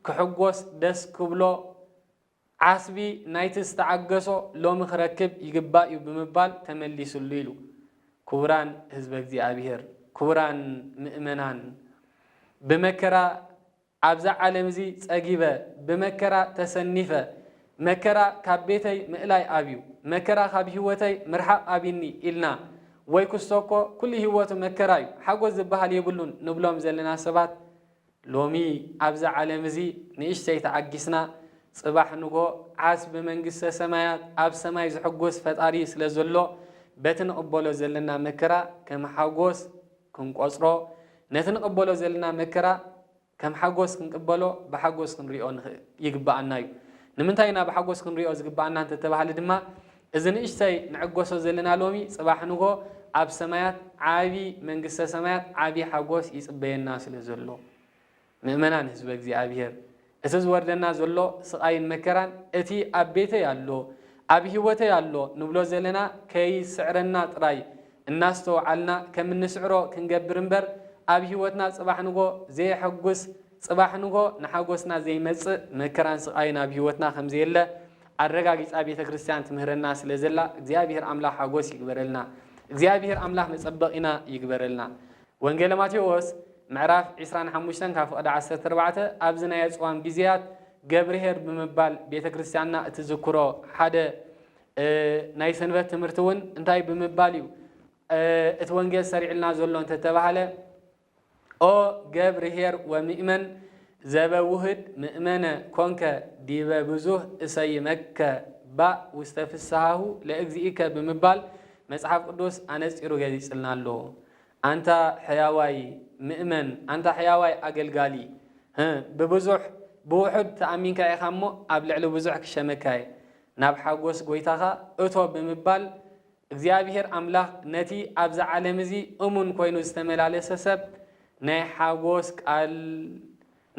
A: ክሕጎስ ደስ ክብሎ ዓስቢ ናይቲ ዝተዓገሶ ሎሚ ክረክብ ይግባእ እዩ ብምባል ተመሊስሉ ኢሉ። ክቡራን ህዝበ እግዚኣብሔር፣ ክቡራን ምእመናን ብመከራ ኣብዛ ዓለም'ዚ ጸጊበ፣ ብመከራ ተሰኒፈ፣ መከራ ካብ ቤተይ ምእላይ ኣብዩ፣ መከራ ካብ ሂወተይ ምርሓቕ ኣብዩኒ ኢልና፣ ወይ ኩስቶ'ኮ ኩሉ ሂወቱ መከራ'ዩ፣ ሓጎስ ዝበሃል የብሉን ንብሎም ዘለና ሰባት፣ ሎሚ ኣብዛ ዓለም'ዚ ንእሽተይ ተዓጊስና፣ ጽባሕ ንግሆ ዓስ ብመንግስተ ሰማያት ኣብ ሰማይ ዝሕጎስ ፈጣሪ ስለዘሎ፣ በቲ ንቕበሎ ዘለና መከራ ከም ሓጎስ፣ ክንቆጽሮ፣ ነቲ ንቕበሎ ዘልና መከራ ከም ሓጎስ ክንቅበሎ፣ ብሓጎስ ክንሪኦ ይግበኣና እዩ። ንምንታይ ኢና ብሓጎስ ክንሪኦ ዝግበኣና እንተተባህለ ድማ፣ እዚ ንእሽተይ ንዕገሶ ዘለና ሎሚ፣ ጽባሕ ንግሆ ኣብ ሰማያት ዓቢ መንግስተ ሰማያት ዓቢ ሓጎስ ይጽበየና ስለዘሎ። ምእመናን ሕዝበ እግዚኣብሔር እቲ ዝወርደና ዘሎ ስቓይን መከራን እቲ ኣብ ቤተይ ኣሎ ኣብ ሕይወተይ ኣሎ ንብሎ ዘለና ከይስዕረና ጥራይ እናስተውዓልና ከም እንስዕሮ ክንገብር እምበር ኣብ ሕይወትና ጽባሕ ንግሆ ዘየሐጉስ ጽባሕ ንግሆ ንሓጎስና ዘይመጽእ መከራን ስቓይን ኣብ ሕይወትና ከም ዘየለ ኣረጋጊጻ ቤተ ክርስቲያን ትምህረና ስለ ዘላ እግዚኣብሔር ኣምላኽ ሓጎስ ይግበረልና እግዚኣብሔር ኣምላኽ መጸበቒና ይግበረልና ወንጌለ ማቴዎስ ምዕራፍ ዕስራን ሓሙሽተን ካብ ፍቕዲ ዓሰርተ ኣርባዕተ ኣብዚ ናይ ኣጽዋም ጊዜያት ገብርኄር ብምባል ቤተ ክርስቲያንና እትዝክሮ ሓደ ናይ ሰንበት ትምህርቲ እውን እንታይ ብምባል እዩ እቲ ወንጌል ሰሪዕልና ዘሎ እንተተባህለ ኦ ገብርኄር ወምእመን ዘበ ውህድ ምእመነ ኮንከ ዲበ ብዙህ እሰይመከ ባእ ውስተ ፍስሃሁ ለእግዚእከ ብምባል መጽሓፍ ቅዱስ ኣነጺሩ ገሊጽልና ኣሎ። ኣንታ ሕያዋይ ምእመን ኣንታ ሕያዋይ ኣገልጋሊ ህ ብብዙሕ ብውሑድ ተኣሚንካ ኢኻ እሞ ኣብ ልዕሊ ብዙሕ ክሸመካ እየ ናብ ሓጎስ ጎይታኻ እቶ ብምባል እግዚኣብሔር ኣምላኽ ነቲ ኣብዚ ዓለም እዚ እሙን ኮይኑ ዝተመላለሰ ሰብ ናይ ሓጎስ ቃል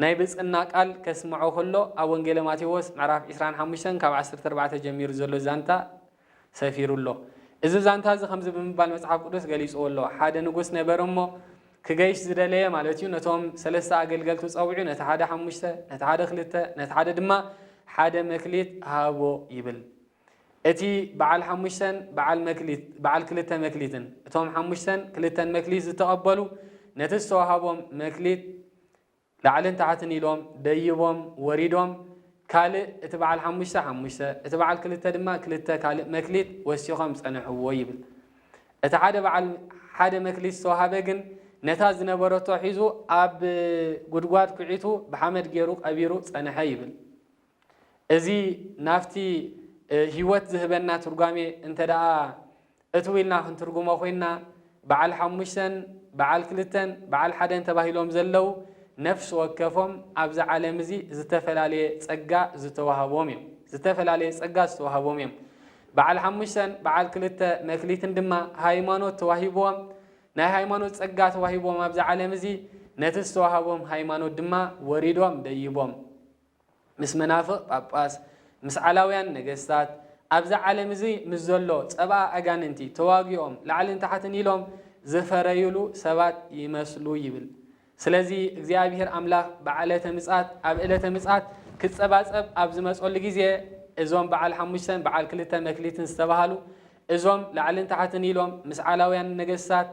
A: ናይ ብፅና ቃል ከስምዖ ክሎ ኣብ ወንጌለ ማቴዎስ ምዕራፍ ዕስራን ሓሙሽተን ካብ ዓሰርተ ኣርባዕተ ጀሚሩ ዘሎ ዛንታ ሰፊሩ ኣሎ። እዚ ዛንታ እዚ ከምዚ ብምባል መጽሓፍ ቅዱስ ገሊጽዎ ኣሎ፣ ሓደ ንጉስ ነበረ እሞ፣ ክገይሽ ዝደለየ ማለት እዩ፣ ነቶም ሰለስተ ኣገልገልቱ ጸዊዑ፣ ነቲ ሓደ ሓሙሽተ፣ ነቲ ሓደ ክልተ፣ ነቲ ሓደ ድማ ሓደ መክሊት ሃቦ ይብል። እቲ በዓል ሓሙሽተን በዓል መክሊት በዓል ክልተ መክሊትን፣ እቶም ሓሙሽተን ክልተን መክሊት ዝተቐበሉ፣ ነቲ ዝተዋህቦም መክሊት ላዕልን ታሕትን ኢሎም ደይቦም ወሪዶም ካልእ እቲ በዓል ሓሙሽተ ሓሙሽተ እቲ በዓል ክልተ ድማ ክልተ ካልእ መክሊት ወሲኾም ጸንሕዎ ይብል። እቲ ሓደ በዓል ሓደ መክሊት ዝተዋህበ ግን ነታ ዝነበረቶ ሒዙ ኣብ ጉድጓድ ኩዒቱ ብሓመድ ገይሩ ቀቢሩ ጸንሐ ይብል። እዚ ናብቲ ህይወት ዝህበና ትርጓሜ እንተደኣ እትው ኢልና ክንትርጉሞ ኮይና፣ በዓል ሓሙሽተን በዓል ክልተን በዓል ሓደን ተባሂሎም ዘለው ነፍሲ ወከፎም ኣብዚ ዓለም እዚ ዝተፈላለየ ጸጋ ዝተዋህቦም እዮም። ዝተፈላለየ ጸጋ ዝተዋህቦም እዮም። በዓል ሓሙሽተን በዓል ክልተ መክሊትን ድማ ሃይማኖት ተዋሂብዎም ናይ ሃይማኖት ጸጋ ተዋሂብዎም ኣብዚ ዓለም እዚ ነቲ ዝተዋህቦም ሃይማኖት ድማ ወሪዶም ደይቦም ምስ መናፍቕ ጳጳስ፣ ምስ ዓላውያን ነገስታት፣ ኣብዚ ዓለም እዚ ምስ ዘሎ ጸብኣ ኣጋንንቲ ተዋጊኦም ላዕልን ታሕትን ኢሎም ዝፈረዩሉ ሰባት ይመስሉ ይብል። ስለዚ እግዚኣብሔር ኣምላኽ በዓለተ ምጽኣት ኣብ ዕለተ ምጽኣት ክጸባጸብ ኣብ ዝመጸሉ ግዜ እዞም በዓል ሓሙሽተን በዓል ክልተ መክሊትን ዝተባህሉ እዞም ላዕልን ታሕትን ኢሎም ምስ ዓላውያን ነገስታት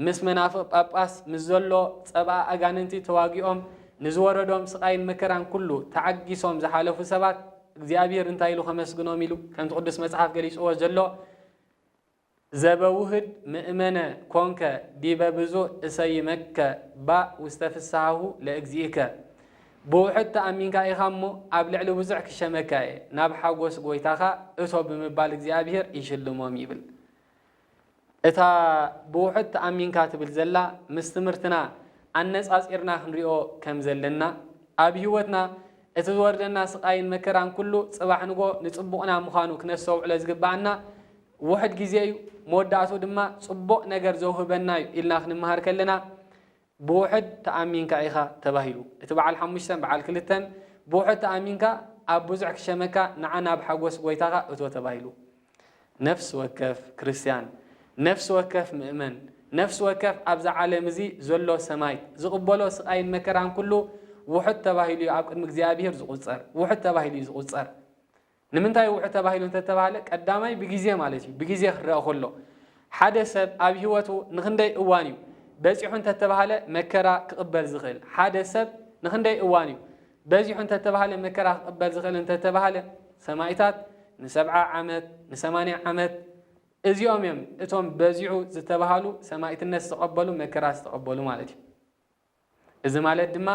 A: ምስ መናፍቕ ጳጳስ ምስ ዘሎ ጸብኣ ኣጋንንቲ ተዋጊኦም ንዝወረዶም ስቓይን መከራን ኩሉ ተዓጊሶም ዝሓለፉ ሰባት እግዚኣብሔር እንታይ ኢሉ ከመስግኖም ኢሉ ከምቲ ቅዱስ መጽሓፍ ገሊጽዎ ዘሎ ዘበውህድ ምእመነ ኮንከ ዲበ ብዙህ እሰይመከ ባእ ውስተ ፍስሓሁ ለእግዚእከ ብውሑድ ተኣሚንካ ኢኻ እሞ ኣብ ልዕሊ ብዙሕ ክሸመካ እየ ናብ ሓጎስ ጐይታኻ እቶ ብምባል እግዚኣብሔር ይሽልሞም ይብል። እታ ብውሑድ ተኣሚንካ ትብል ዘላ ምስ ትምህርትና ኣነጻጺርና ክንሪኦ ከም ዘለና ኣብ ሂወትና እቲ ዝወርደና ስቃይን መከራን ኩሉ ጽባሕ ንግሆ ንጽቡቅና ምዃኑ ክነስተውዕሎ ዝግብኣና ውሕድ ግዜ እዩ መወዳእትኡ ድማ ጽቡቅ ነገር ዘውህበና እዩ ኢልና ክንመሃር ከለና ብውሑድ ተኣሚንካ ኢኻ ተባሂሉ። እቲ በዓል ሓሙሽተን በዓል ክልተን ብውሑድ ተኣሚንካ ኣብ ብዙሕ ክሸመካ ንዓ ናብ ሓጎስ ጐይታኻ እቶ ተባሂሉ። ነፍሲ ወከፍ ክርስትያን፣ ነፍሲ ወከፍ ምእመን፣ ነፍሲ ወከፍ ኣብዛ ዓለም እዚ ዘሎ ሰማይት ዝቕበሎ ስቓይን መከራን ኩሉ ውሑድ ተባሂሉ እዩ ኣብ ቅድሚ እግዚኣብሔር ዝቑጸር። ውሑድ ተባሂሉ እዩ ዝቑጸር። ንምንታይ ውሑድ ተባሂሉ እንተተባህለ ቀዳማይ ብግዜ ማለት እዩ ብግዜ ክረኣ ከሎ ሓደ ሰብ ኣብ ሂወቱ ንክንደይ እዋን እዩ በጺሑ እንተተባህለ መከራ ክቕበል ዝኽእል ሓደ ሰብ ንክንደይ እዋን እዩ በዚሑ እንተተባህለ መከራ ክቕበል ዝኽእል እንተተባህለ ሰማኢታት ንሰብዓ ዓመት ንሰማንያ ዓመት እዚኦም እዮም እቶም በዚሑ ዝተባሃሉ ሰማኢትነት ዝተቐበሉ መከራ ዝተቐበሉ ማለት እዩ እዚ ማለት ድማ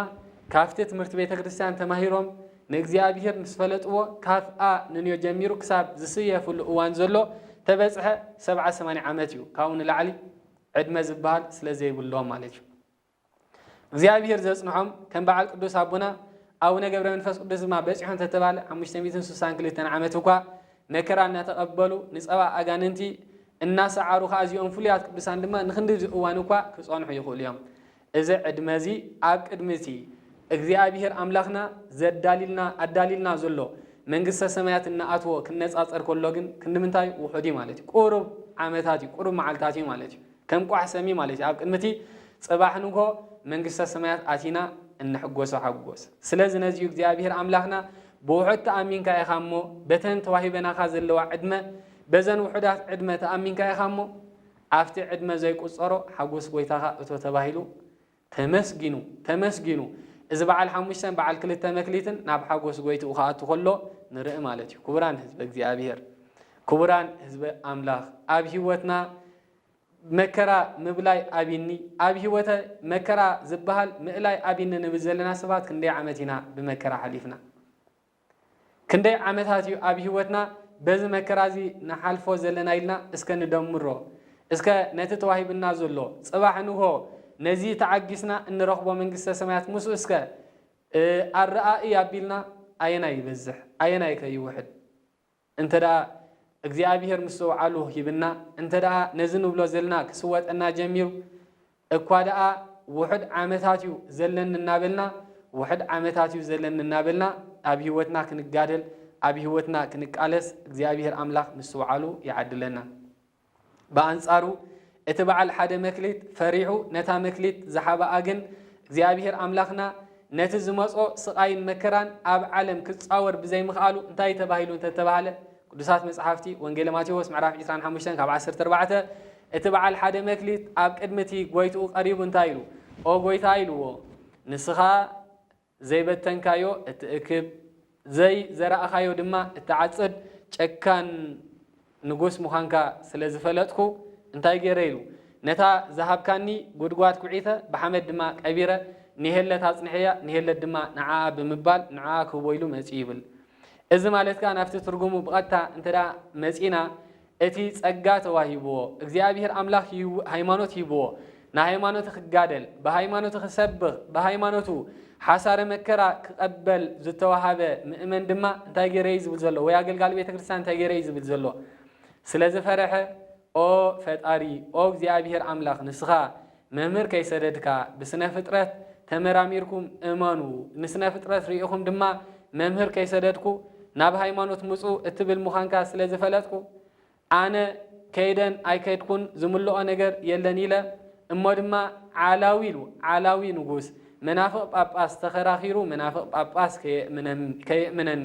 A: ካብቲ ትምህርቲ ቤተ ክርስቲያን ተማሂሮም ንእግዚኣብሔር ምስ ፈለጥዎ ካብ a ንንዮ ጀሚሩ ክሳብ ዝስየፍሉ እዋን ዘሎ ተበጽሐ ሰብዓ ሰማንያ ዓመት እዩ። ካብኡ ንላዕሊ ዕድመ ዝበሃል ስለ ዘይብሎም ማለት እዩ። እግዚኣብሔር ዘጽንሖም ከም በዓል ቅዱስ ኣቦና ኣቡነ ገብረ መንፈስ ቅዱስ ድማ በጺሖ እንተተባለ ሓሙሽተ ሚእትን ስሳን ክልተን ዓመት እኳ መከራ እናተቐበሉ ንጸባ ኣጋንንቲ እናሰዓሩ ኸኣ እዚኦም ፍሉያት ቅዱሳን ድማ ንኽንድዚ እዋን እኳ ክጸንሑ ይኽእሉ እዮም። እዚ ዕድመ እዚ ኣብ ቅድሚ እቲ እግዚኣብሄር ኣምላኽና ዘዳልዩልና ኣዳልዩልና ዘሎ መንግስተ ሰማያት እንኣትዎ ክነጻጸር ከሎ ግን ክንድምንታይ እዩ? ውሑድ እዩ ማለት እዩ። ቁሩብ ዓመታት እዩ፣ ቁሩብ መዓልታት እዩ ማለት እዩ። ከም ቋሕ ሰም እዩ ማለት እዩ። ኣብ ቅድሚ እቲ ጽባሕ ንግሆ መንግስተ ሰማያት ኣቲና እንሕጎሶ ሓጎስ። ስለዚ ነዚ እዩ እግዚኣብሄር ኣምላኽና ብውሑድ ተኣሚንካ ኢኻ እሞ በተን ተዋሂበናኻ ዘለዋ ዕድመ በዘን ውሑዳት ዕድመ ተኣሚንካ ኢኻ እሞ ኣብቲ ዕድመ ዘይቁጸሮ ሓጎስ ጎይታኻ እቶ ተባሂሉ ተመስጊኑ ተመስጊኑ እዚ በዓል ሓሙሽተን በዓል ክልተ መክሊትን ናብ ሓጎስ ጎይትኡ ክኣቱ ከሎ ንርኢ ማለት እዩ ክቡራን ህዝበ እግዚኣብሔር ክቡራን ህዝበ ኣምላኽ ኣብ ህይወትና መከራ ምብላይ ኣብኒ ኣብ ህይወተ መከራ ዝበሃል ምእላይ ኣብኒ ንብል ዘለና ሰባት ክንደይ ዓመት ኢና ብመከራ ሓሊፍና ክንደይ ዓመታት እዩ ኣብ ህይወትና በዚ መከራ እዚ ንሓልፎ ዘለና ኢልና እስከ ንደምሮ። እስከ ነቲ ተዋሂቡና ዘሎ ጽባሕ ንግሆ ነዚ ተዓጊስና እንረኽቦ መንግስተ ሰማያት ምስኡ እስከ ኣረኣእይ ኣቢልና ኣየናይ ይበዝሕ ኣየናይከ ይውሕድ? እንተደኣ እግዚኣብሄር ምስትውዓሉ ሂብና፣ እንተደኣ ነዚ ንብሎ ዘልና ክስወጠና ጀሚሩ፣ እኳ ደኣ ውሑድ ዓመታት እዩ ዘለኒ እናበልና፣ ውሑድ ዓመታት እዩ ዘለኒ እናበልና ኣብ ህይወትና ክንጋደል፣ ኣብ ህይወትና ክንቃለስ እግዚኣብሄር ኣምላኽ ምስትውዓሉ ይዓድለና። ብኣንጻሩ እቲ በዓል ሓደ መክሊት ፈሪሑ ነታ መክሊት ዝሓበኣ ግን እግዚኣብሔር ኣምላኽና ነቲ ዝመጾ ስቓይን መከራን ኣብ ዓለም ክጻወር ብዘይምኽኣሉ እንታይ ተባሂሉ እንተተባህለ ቅዱሳት መጽሓፍቲ ወንጌለ ማቴዎስ ምዕራፍ 25 ካብ 14 እቲ በዓል ሓደ መክሊት ኣብ ቅድሚ እቲ ጎይትኡ ቀሪቡ እንታይ ኢሉ ኦ ጎይታ ኢልዎ ንስኻ ዘይበተንካዮ እትእክብ፣ ዘይ ዘራእኻዮ ድማ እትዓጽድ ጨካን ንጉስ ምዃንካ ስለ ዝፈለጥኩ፣ እንታይ ገይረ ኢሉ፣ ነታ ዝሃብካኒ ጕድጓድ ኵዒተ፣ ብሓመድ ድማ ቀቢረ፣ ንሄለት ኣጽንሐያ፣ ንሄለት ድማ ንዓኣ ብምባል ንዕኣ ክህቦ ኢሉ መጺኡ ይብል። እዚ ማለት ከኣ ናብቲ ትርጕሙ ብቐጥታ እንተ መጺእና፣ እቲ ጸጋ ተዋሂብዎ እግዚኣብሄር ኣምላኽ ይህው ሃይማኖት ሂብዎ ንሃይማኖቲ ክጋደል ብሃይማኖቲ ክሰብኽ ብሃይማኖቱ ሓሳረ መከራ ክቐበል ዝተዋሃበ ምእመን ድማ እንታይ ገይረ እዩ ዝብል ዘሎ ወይ ኣገልጋሊ ቤተ ክርስቲያን እንታይ ገይረ እዩ ዝብል ዘሎ ስለ ዝፈረሐ ኦ ፈጣሪ ኦ እግዚኣብሄር ኣምላኽ ንስኻ መምህር ከይሰደድካ ብስነፍጥረት ተመራሚርኩም እመኑ ንስነፍጥረት ሪኢኹም ድማ መምህር ከይሰደድኩ ናብ ሃይማኖት ምጹ እትብል ምዃንካ ስለ ዝፈለጥኩ ኣነ ከይደን ኣይከድኩን ዝምልኦ ነገር የለን ኢለ እሞ ድማ ዓላዊ ኢሉ ዓላዊ ንጉስ መናፍቕ ጳጳስ ተኸራኺሩ መናፍቕ ጳጳስ ከየእምነኒ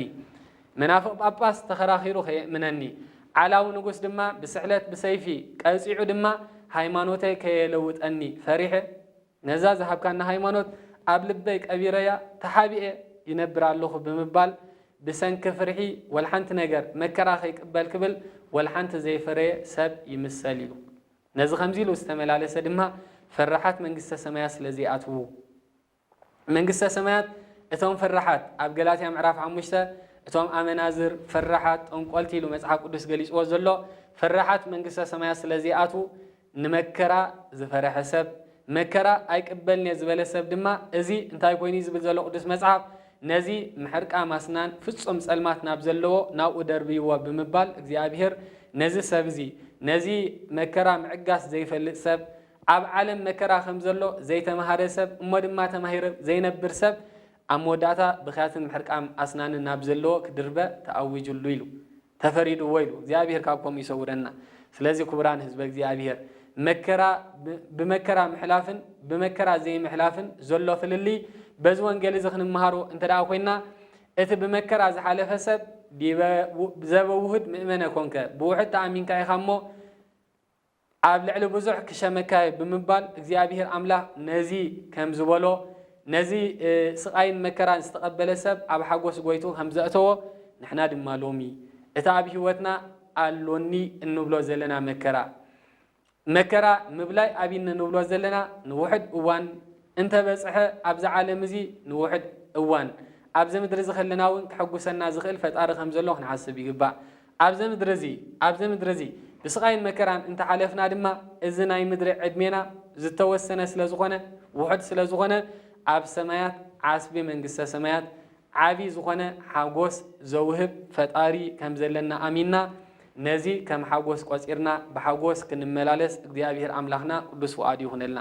A: መናፍቕ ጳጳስ ተኸራኺሩ ከየእምነኒ፣ ዓላዊ ንጉስ ድማ ብስዕለት ብሰይፊ ቀጺዑ ድማ ሃይማኖተይ ከየለውጠኒ ፈሪሐ፣ ነዛ ዝሃብካኒ ሃይማኖት ኣብ ልበይ ቀቢረያ ተሓቢኤ ይነብር ኣሎኹ ብምባል ብሰንኪ ፍርሒ ወልሓንቲ ነገር መከራ ከይቅበል ክብል ወልሓንቲ ዘይፈረየ ሰብ ይምሰል እዩ። ነዚ ከምዚ ኢሉ ዝተመላለሰ ድማ ፈራሓት መንግስተ ሰማያት ስለ ዘይኣትዉ፣ መንግስተ ሰማያት እቶም ፈራሓት ኣብ ገላትያ ምዕራፍ ሓሙሽተ እቶም ኣመናዝር፣ ፈራሓት፣ ጠንቆልቲ ኢሉ መጽሓፍ ቅዱስ ገሊጽዎ ዘሎ ፈራሓት መንግስተ ሰማያት ስለ ዘይኣትዉ ንመከራ ዝፈረሐ ሰብ መከራ ኣይቅበልንየ ዝበለ ሰብ ድማ እዚ እንታይ ኮይኑ እዩ ዝብል ዘሎ ቅዱስ መጽሓፍ ነዚ ምሕርቃ ማስናን ፍጹም ጸልማት ናብ ዘለዎ ናብኡ ደርብይዎ ብምባል እግዚኣብሔር ነዚ ሰብ እዚ ነዚ መከራ ምዕጋስ ዘይፈልጥ ሰብ ኣብ ዓለም መከራ ከም ዘሎ ዘይተመሃረ ሰብ እሞ ድማ ተማሂረ ዘይነብር ሰብ ኣብ መወዳእታ ብኽያትን ምሕርቃም ኣስናንን ናብ ዘለዎ ክድርበ ተኣዊጅሉ ኢሉ ተፈሪድዎ ኢሉ እግዚኣብሔር ካብ ከምኡ ይሰውረና ስለዚ ክቡራን ህዝበ እግዚኣብሔር መከራ ብመከራ ምሕላፍን ብመከራ ዘይምሕላፍን ዘሎ ፍልልይ በዚ ወንጌል እዚ ክንመሃሮ እንተ ደኣ ኮይና እቲ ብመከራ ዝሓለፈ ሰብ ዲበ ዘበውህድ ምእመነ ኮንከ ብውሕድ ተኣሚንካ ኢኻ እሞ ኣብ ልዕሊ ብዙሕ ክሸመካ'የ ብምባል እግዚኣብሄር ኣምላኽ ነዚ ከም ዝበሎ፣ ነዚ ስቓይን መከራን ዝተቐበለ ሰብ ኣብ ሓጐስ ጐይትኡ ከም ዘእተዎ፣ ንሕና ድማ ሎሚ እቲ ኣብ ህይወትና ኣሎኒ እንብሎ ዘለና መከራ፣ መከራ ምብላይ ኣብይኒ ንብሎ ዘለና ንውሑድ እዋን እንተ በጽሐ ኣብ'ዚ ዓለም እዚ ንውሑድ እዋን ኣብ'ዚ ምድሪ'ዚ ከለና'ውን ከሐጕሰና ዝኽእል ፈጣሪ ከም ዘሎ ክንሓስብ ይግባእ። ኣብዘ ምድሪ እዚ ኣብዘ ምድሪ እዚ ብስቓይን መከራን እንተ ሓለፍና ድማ እዚ ናይ ምድሪ ዕድሜና ዝተወሰነ ስለ ዝኾነ ውሑድ ስለ ዝኾነ ኣብ ሰማያት ዓስቢ መንግስተ ሰማያት ዓቢ ዝኾነ ሓጎስ ዘውህብ ፈጣሪ ከም ዘለና ኣሚንና ነዚ ከም ሓጎስ ቆጺርና ብሓጎስ ክንመላለስ እግዚኣብሄር ኣምላኽና ቅዱስ ፍቓዱ ይኹነልና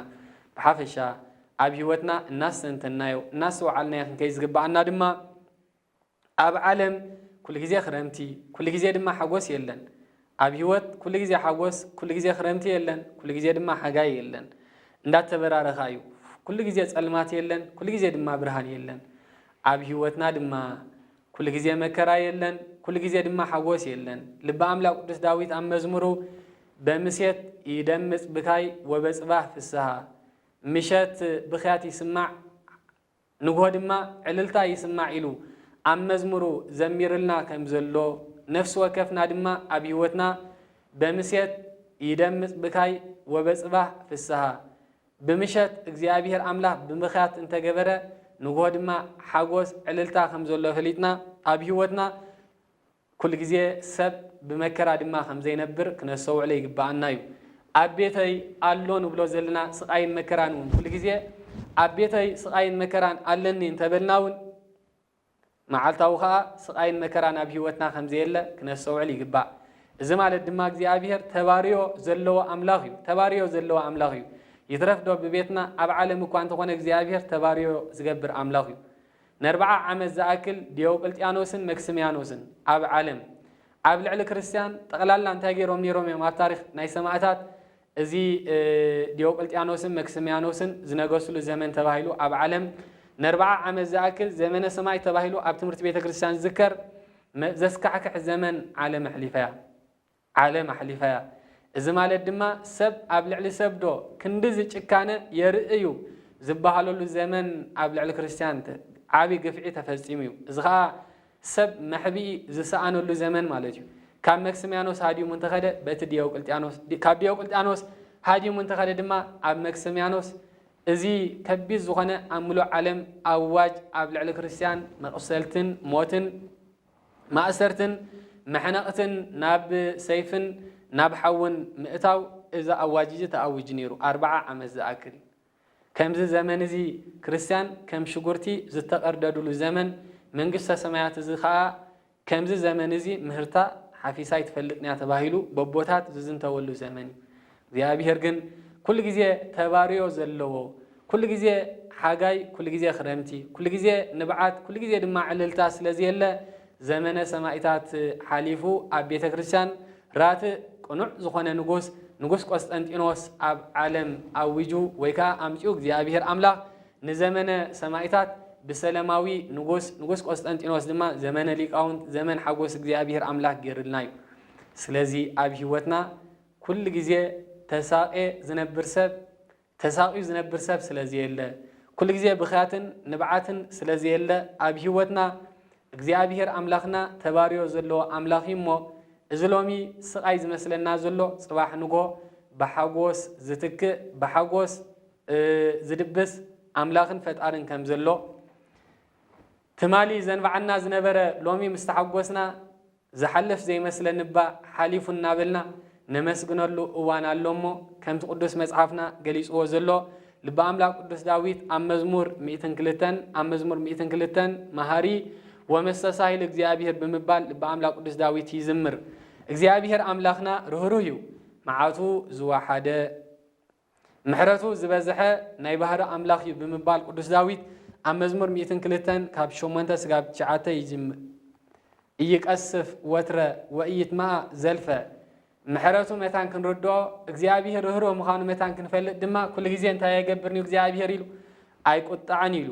A: ብሓፈሻ ኣብ ሕይወትና እናስተንተንናዮ እናስተውዓልናዮ ክንከይድ ዝግብኣና ድማ ኣብ ዓለም ኩሉ ግዜ ክረምቲ ኩሉ ግዜ ድማ ሓጎስ የለን። ኣብ ህይወት ኩሉ ግዜ ሓጎስ ኩሉ ግዜ ክረምቲ የለን ኩሉ ግዜ ድማ ሓጋይ የለን። እንዳተበራረኻ እዩ። ኩሉ ግዜ ጸልማት የለን ኩሉ ግዜ ድማ ብርሃን የለን። ኣብ ህይወትና ድማ ኩሉ ግዜ መከራ የለን ኩሉ ግዜ ድማ ሓጎስ የለን። ልበ ኣምላክ ቅዱስ ዳዊት ኣብ መዝሙሩ በምሴት ይደምጽ ብካይ ወበጽባህ ፍስሃ ምሸት ብክያት ይስማዕ ንግሆ ድማ ዕልልታ ይስማዕ ኢሉ ኣብ መዝሙሩ ዘሚርልና ከምዘሎ ነፍሲ ወከፍና ድማ ኣብ ሕይወትና በምሴት ይደምጽ ብካይ ወበጽባሕ ፍስሃ ብምሸት እግዚኣብሔር ኣምላኽ ብምኽያት እንተገበረ ንግሆ ድማ ሓጎስ ዕልልታ ከምዘሎ ፈሊጥና ኣብ ሕይወትና ኩሉ ግዜ ሰብ ብመከራ ድማ ከም ዘይነብር ክነስተውዕሎ ይግብኣና እዩ። ኣብ ቤተይ ኣሎ ንብሎ ዘለና ስቓይን መከራን እውን ኩሉ ግዜ ኣብ ቤተይ ስቓይን መከራን ኣለኒ እንተ በልና እውን መዓልታዊ ከኣ ስቓይን መከራን ኣብ ህይወትና ከም ዘየለ ክነስተውዕል ይግባእ። እዚ ማለት ድማ እግዚኣብሄር ተባርዮ ዘለዎ ኣምላኽ እዩ ተባርዮ ዘለዎ ኣምላኽ እዩ። ይትረፍዶ ብቤትና ኣብ ዓለም እኳ እንተኾነ እግዚኣብሄር ተባርዮ ዝገብር ኣምላኽ እዩ። ነርብዓ ዓመት ዝኣክል ዲዮቅልጥያኖስን መክስምያኖስን ኣብ ዓለም ኣብ ልዕሊ ክርስትያን ጠቅላላ እንታይ ገይሮም ነይሮም እዮም ኣብ ታሪክ ናይ ሰማእታት እዚ ዲዮቅልጥያኖስን መክስምያኖስን ዝነገስሉ ዘመን ተባሂሉ ኣብ ዓለም ነርብዓ ዓመት ዝኣክል ዘመነ ሰማይ ተባሂሉ ኣብ ትምህርቲ ቤተ ክርስትያን ዝዝከር ዘስካሕክሕ ዘመን ዓለም ኣሕሊፋ እያ። ዓለም ኣሕሊፋያ። እዚ ማለት ድማ ሰብ ኣብ ልዕሊ ሰብ ዶ ክንድዚ ጭካነ የርኢ እዩ ዝበሃለሉ ዘመን ኣብ ልዕሊ ክርስትያን ዓቢ ግፍዒ ተፈጺሙ እዩ። እዚ ከኣ ሰብ መሕብኢ ዝሰኣነሉ ዘመን ማለት እዩ። ካብ መክስምያኖስ ሃዲሙ እንተኸደ በቲ ዲዮቅልጥያኖስ፣ ካብ ዲዮቅልጥያኖስ ሃዲሙ እንተኸደ ድማ ኣብ መክስምያኖስ እዚ ከቢድ ዝኾነ ኣብ ምሉእ ዓለም ኣዋጅ ኣብ ልዕሊ ክርስትያን መቑሰልትን ሞትን፣ ማእሰርትን መሕነቕትን ናብ ሰይፍን ናብ ሓውን ምእታው እዚ ኣዋጅ'ዚ ተኣዊጁ ነይሩ ኣርብዓ ዓመት ዝኣክል። ከምዚ ዘመን'ዚ ክርስትያን ከም ሽጉርቲ ዝተቐርደዱሉ ዘመን መንግስተ ሰማያት'ዚ ከኣ ከምዚ ዘመን'ዚ ምህርታ ሓፊሳ ኣይትፈልጥን'ያ ተባሂሉ በቦታት ዝዝንተወሉ ዘመን'ዩ። እግዚኣብሄር ግን ኩሉ ግዜ ተባርዮ ዘለዎ ኩሉ ግዜ ሓጋይ ኩሉ ግዜ ክረምቲ ኩሉ ግዜ ንብዓት ኩሉ ግዜ ድማ ዕልልታ ስለ ዝየለ ዘመነ ሰማኢታት ሓሊፉ ኣብ ቤተክርስትያን ራትእ ቅኑዕ ዝኾነ ንጉስ ንጉስ ቆስጠንጢኖስ ኣብ ዓለም ኣዊጁ ወይ ከኣ ኣምጺኡ እግዚኣብሄር ኣምላኽ ንዘመነ ሰማኢታት ብሰለማዊ ንጉስ ንጉስ ቆስጠንጢኖስ ድማ ዘመነ ሊቃውንት ዘመን ሓጎስ እግዚኣብሄር ኣምላኽ ጌርልና እዩ ስለዚ ኣብ ሂወትና ኩሉ ግዜ ተሳቅየ ዝነብር ሰብ ተሳቅዩ ዝነብር ሰብ ስለ ዘየለ ኩሉ ግዜ ብኽያትን ንብዓትን ስለ ዘየለ ኣብ ሂወትና እግዚኣብሄር ኣምላኽና ተባርዮ ዘለዎ ኣምላኽ እዩ እሞ እዚ ሎሚ ስቃይ ዝመስለና ዘሎ ጽባሕ ንግሆ ብሓጎስ ዝትክእ ብሓጎስ ዝድብስ ኣምላኽን ፈጣርን ከም ዘሎ ትማሊ ዘንብዓና ዝነበረ ሎሚ ምስ ተሓጎስና ዝሓልፍ ዘይመስለኒ እባ ሓሊፉ እናበልና ነመስግነሉ እዋን ኣሎ እሞ፣ ከምቲ ቅዱስ መጽሓፍና ገሊጽዎ ዘሎ፣ ልበ ኣምላክ ቅዱስ ዳዊት ኣብ መዝሙር ሚእትን ክልተን ኣብ መዝሙር ሚእትን ክልተን መሃሪ ወመስተሳሂል እግዚኣብሔር ብምባል ልበ ኣምላክ ቅዱስ ዳዊት ይዝምር። እግዚኣብሔር ኣምላክና ርህሩህ እዩ፣ መዓቱ ዝወሓደ፣ ምሕረቱ ዝበዝሐ ናይ ባህሪ ኣምላኽ እዩ ብምባል ቅዱስ ዳዊት ኣብ መዝሙር ሚእትን ክልተን ካብ ሸሞንተ ስጋብ ትሽዓተ ይጅምር ኢይቀስፍ ወትረ ወኢይትመኣ ዘልፈ ምሕረቱ መታን ክንርድኦ እግዚኣብሔር ርህሩህ ምዃኑ መታን ክንፈልጥ ድማ ኩሉ ግዜ እንታይ ኣይገብርን እዩ እግዚኣብሔር ኢሉ ኣይቁጣዕን ኢሉ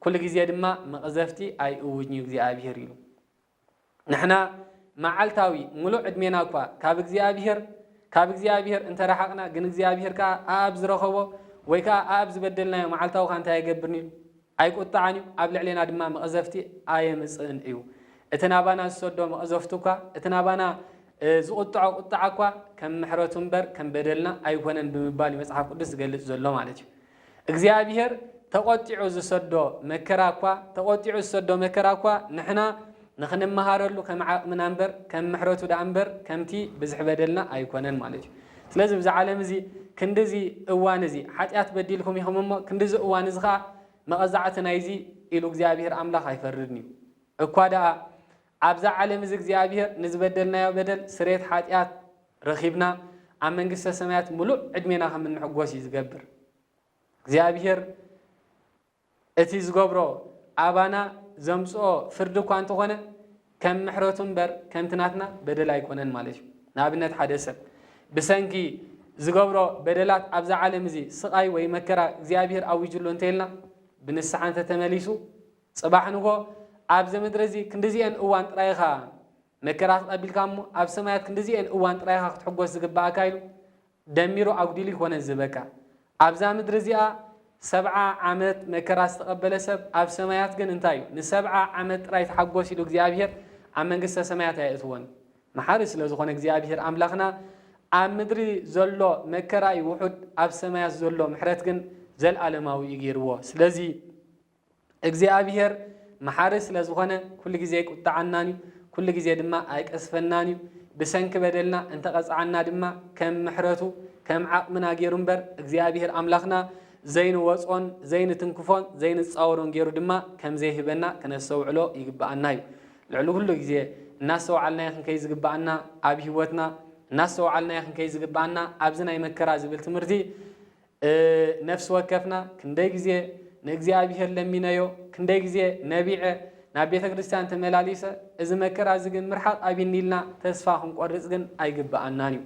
A: ኩሉ ግዜ ድማ መቕዘፍቲ ኣይእውጅን እዩ እግዚኣብሔር ኢሉ ንሕና መዓልታዊ ምሉእ ዕድሜና እኳ ካብ እግዚኣብሄር ካብ እግዚኣብሄር እንተ ረሓቕና ግን እግዚኣብሄር ከኣ ኣኣብ ዝረኸቦ ወይ ከኣ ኣኣብ ዝበደልናዮ መዓልታዊ ከኣ እንታይ ኣይገብርን እዩ ኣይቁጣዓን እዩ ኣብ ልዕሌና ድማ መቐዘፍቲ ኣየምጽእን እዩ እቲ ናባና ዝሰዶ መቐዘፍቱ እኳ እቲ ናባና ዝቁጥዖ ቁጥዓ እኳ ከም ምሕረቱ እምበር ከም በደልና ኣይኮነን ብምባል መጽሓፍ ቅዱስ ዝገልጽ ዘሎ ማለት እዩ እግዚኣብሄር ተቖጢዑ ዝሰዶ መከራ እኳ ተቖጢዑ ዝሰዶ መከራ እኳ ንሕና ንኽንመሃረሉ ከም ዓቕምና እምበር ከም ምሕረቱ ደኣ እምበር ከምቲ ብዝሒ በደልና ኣይኮነን ማለት እዩ። ስለዚ ብዚ ዓለም እዚ ክንድዚ እዋን እዚ ሓጢኣት በዲልኩም ኢኹም እሞ ክንድዚ እዋን እዚ ኸኣ መቐዛዕቲ ናይዚ ኢሉ እግዚኣብሄር ኣምላኽ ኣይፈርድን እዩ። እኳ ደኣ ኣብዛ ዓለም እዚ እግዚኣብሄር ንዝበደልናዮ በደል ስርየት ሓጢኣት ረኺብና ኣብ መንግስተ ሰማያት ምሉእ ዕድሜና ከም እንሕጎስ እዩ ዝገብር። እግዚኣብሄር እቲ ዝገብሮ ኣባና ዘምጽኦ ፍርዲ እኳ እንተኾነ ከም ምሕረቱ እምበር ከምቲ ናትና በደል ኣይኮነን ማለት እዩ። ንኣብነት ሓደ ሰብ ብሰንኪ ዝገብሮ በደላት ኣብዛ ዓለም እዚ ስቓይ ወይ መከራ እግዚኣብሄር ኣዊጅሉ እንተይልና ብንስሓ እንተተመሊሱ ጽባሕ ንጎ ኣብዚ ምድሪ እዚ ክንዲዚኤን እዋን ጥራይ ኢኻ መከራ ተቐቢልካ እሞ ኣብ ሰማያት ክንድዚኤን እዋን ጥራይ ኢኻ ክትሕጎስ ዝግብኣካ ኢሉ ደሚሩ ኣጉዲሉ ኣይኮነን ዝህበካ። ኣብዛ ምድሪ እዚኣ ሰብዓ ዓመት መከራ ዝተቐበለ ሰብ ኣብ ሰማያት ግን እንታይ እዩ ንሰብዓ ዓመት ጥራይ ተሓጎስ ኢሉ እግዚኣብሄር ኣብ መንግስተ ሰማያት ኣየእትዎን። መሓሪ ስለ ዝኾነ እግዚኣብሄር ኣምላኽና ኣብ ምድሪ ዘሎ መከራ እዩ ውሑድ ኣብ ሰማያት ዘሎ ምሕረት ግን ዘልኣለማዊ እዩ ገይርዎ። ስለዚ። እግዚኣብሄር መሓሪ ስለ ዝኾነ ኩሉ ግዜ ኣይቁጠዓናን እዩ፣ ኩሉ ግዜ ድማ ኣይቀስፈናን እዩ። ብሰንኪ በደልና እንተ ቐጽዓና ድማ ከም ምሕረቱ ከም ዓቕምና ገይሩ እምበር እግዚኣብሄር ኣምላኽና ዘይንወጽኦን ዘይንትንክፎን ዘይንጻወሮን ገይሩ ድማ ከም ዘይህበና ክነስተውዕሎ ይግብኣና እዩ። ልዕሊ ኩሉ ግዜ እናስተውዓልናዮ ክንከይድ ዝግብኣና ኣብ ህይወትና እናስተውዓልናዮ ክንከይድ ዝግብኣና ኣብዚ ናይ መከራ ዝብል ትምህርቲ ነፍሲ ወከፍና ክንደይ ግዜ ንእግዚኣብሄር ለሚነዮ፣ ክንደይ ግዜ ነቢዐ፣ ናብ ቤተ ክርስቲያን ተመላሊሰ፣ እዚ መከራ እዚ ግን ምርሓቕ ኣብይኒ ኢልና ተስፋ ክንቆርጽ ግን ኣይግብኣናን እዩ።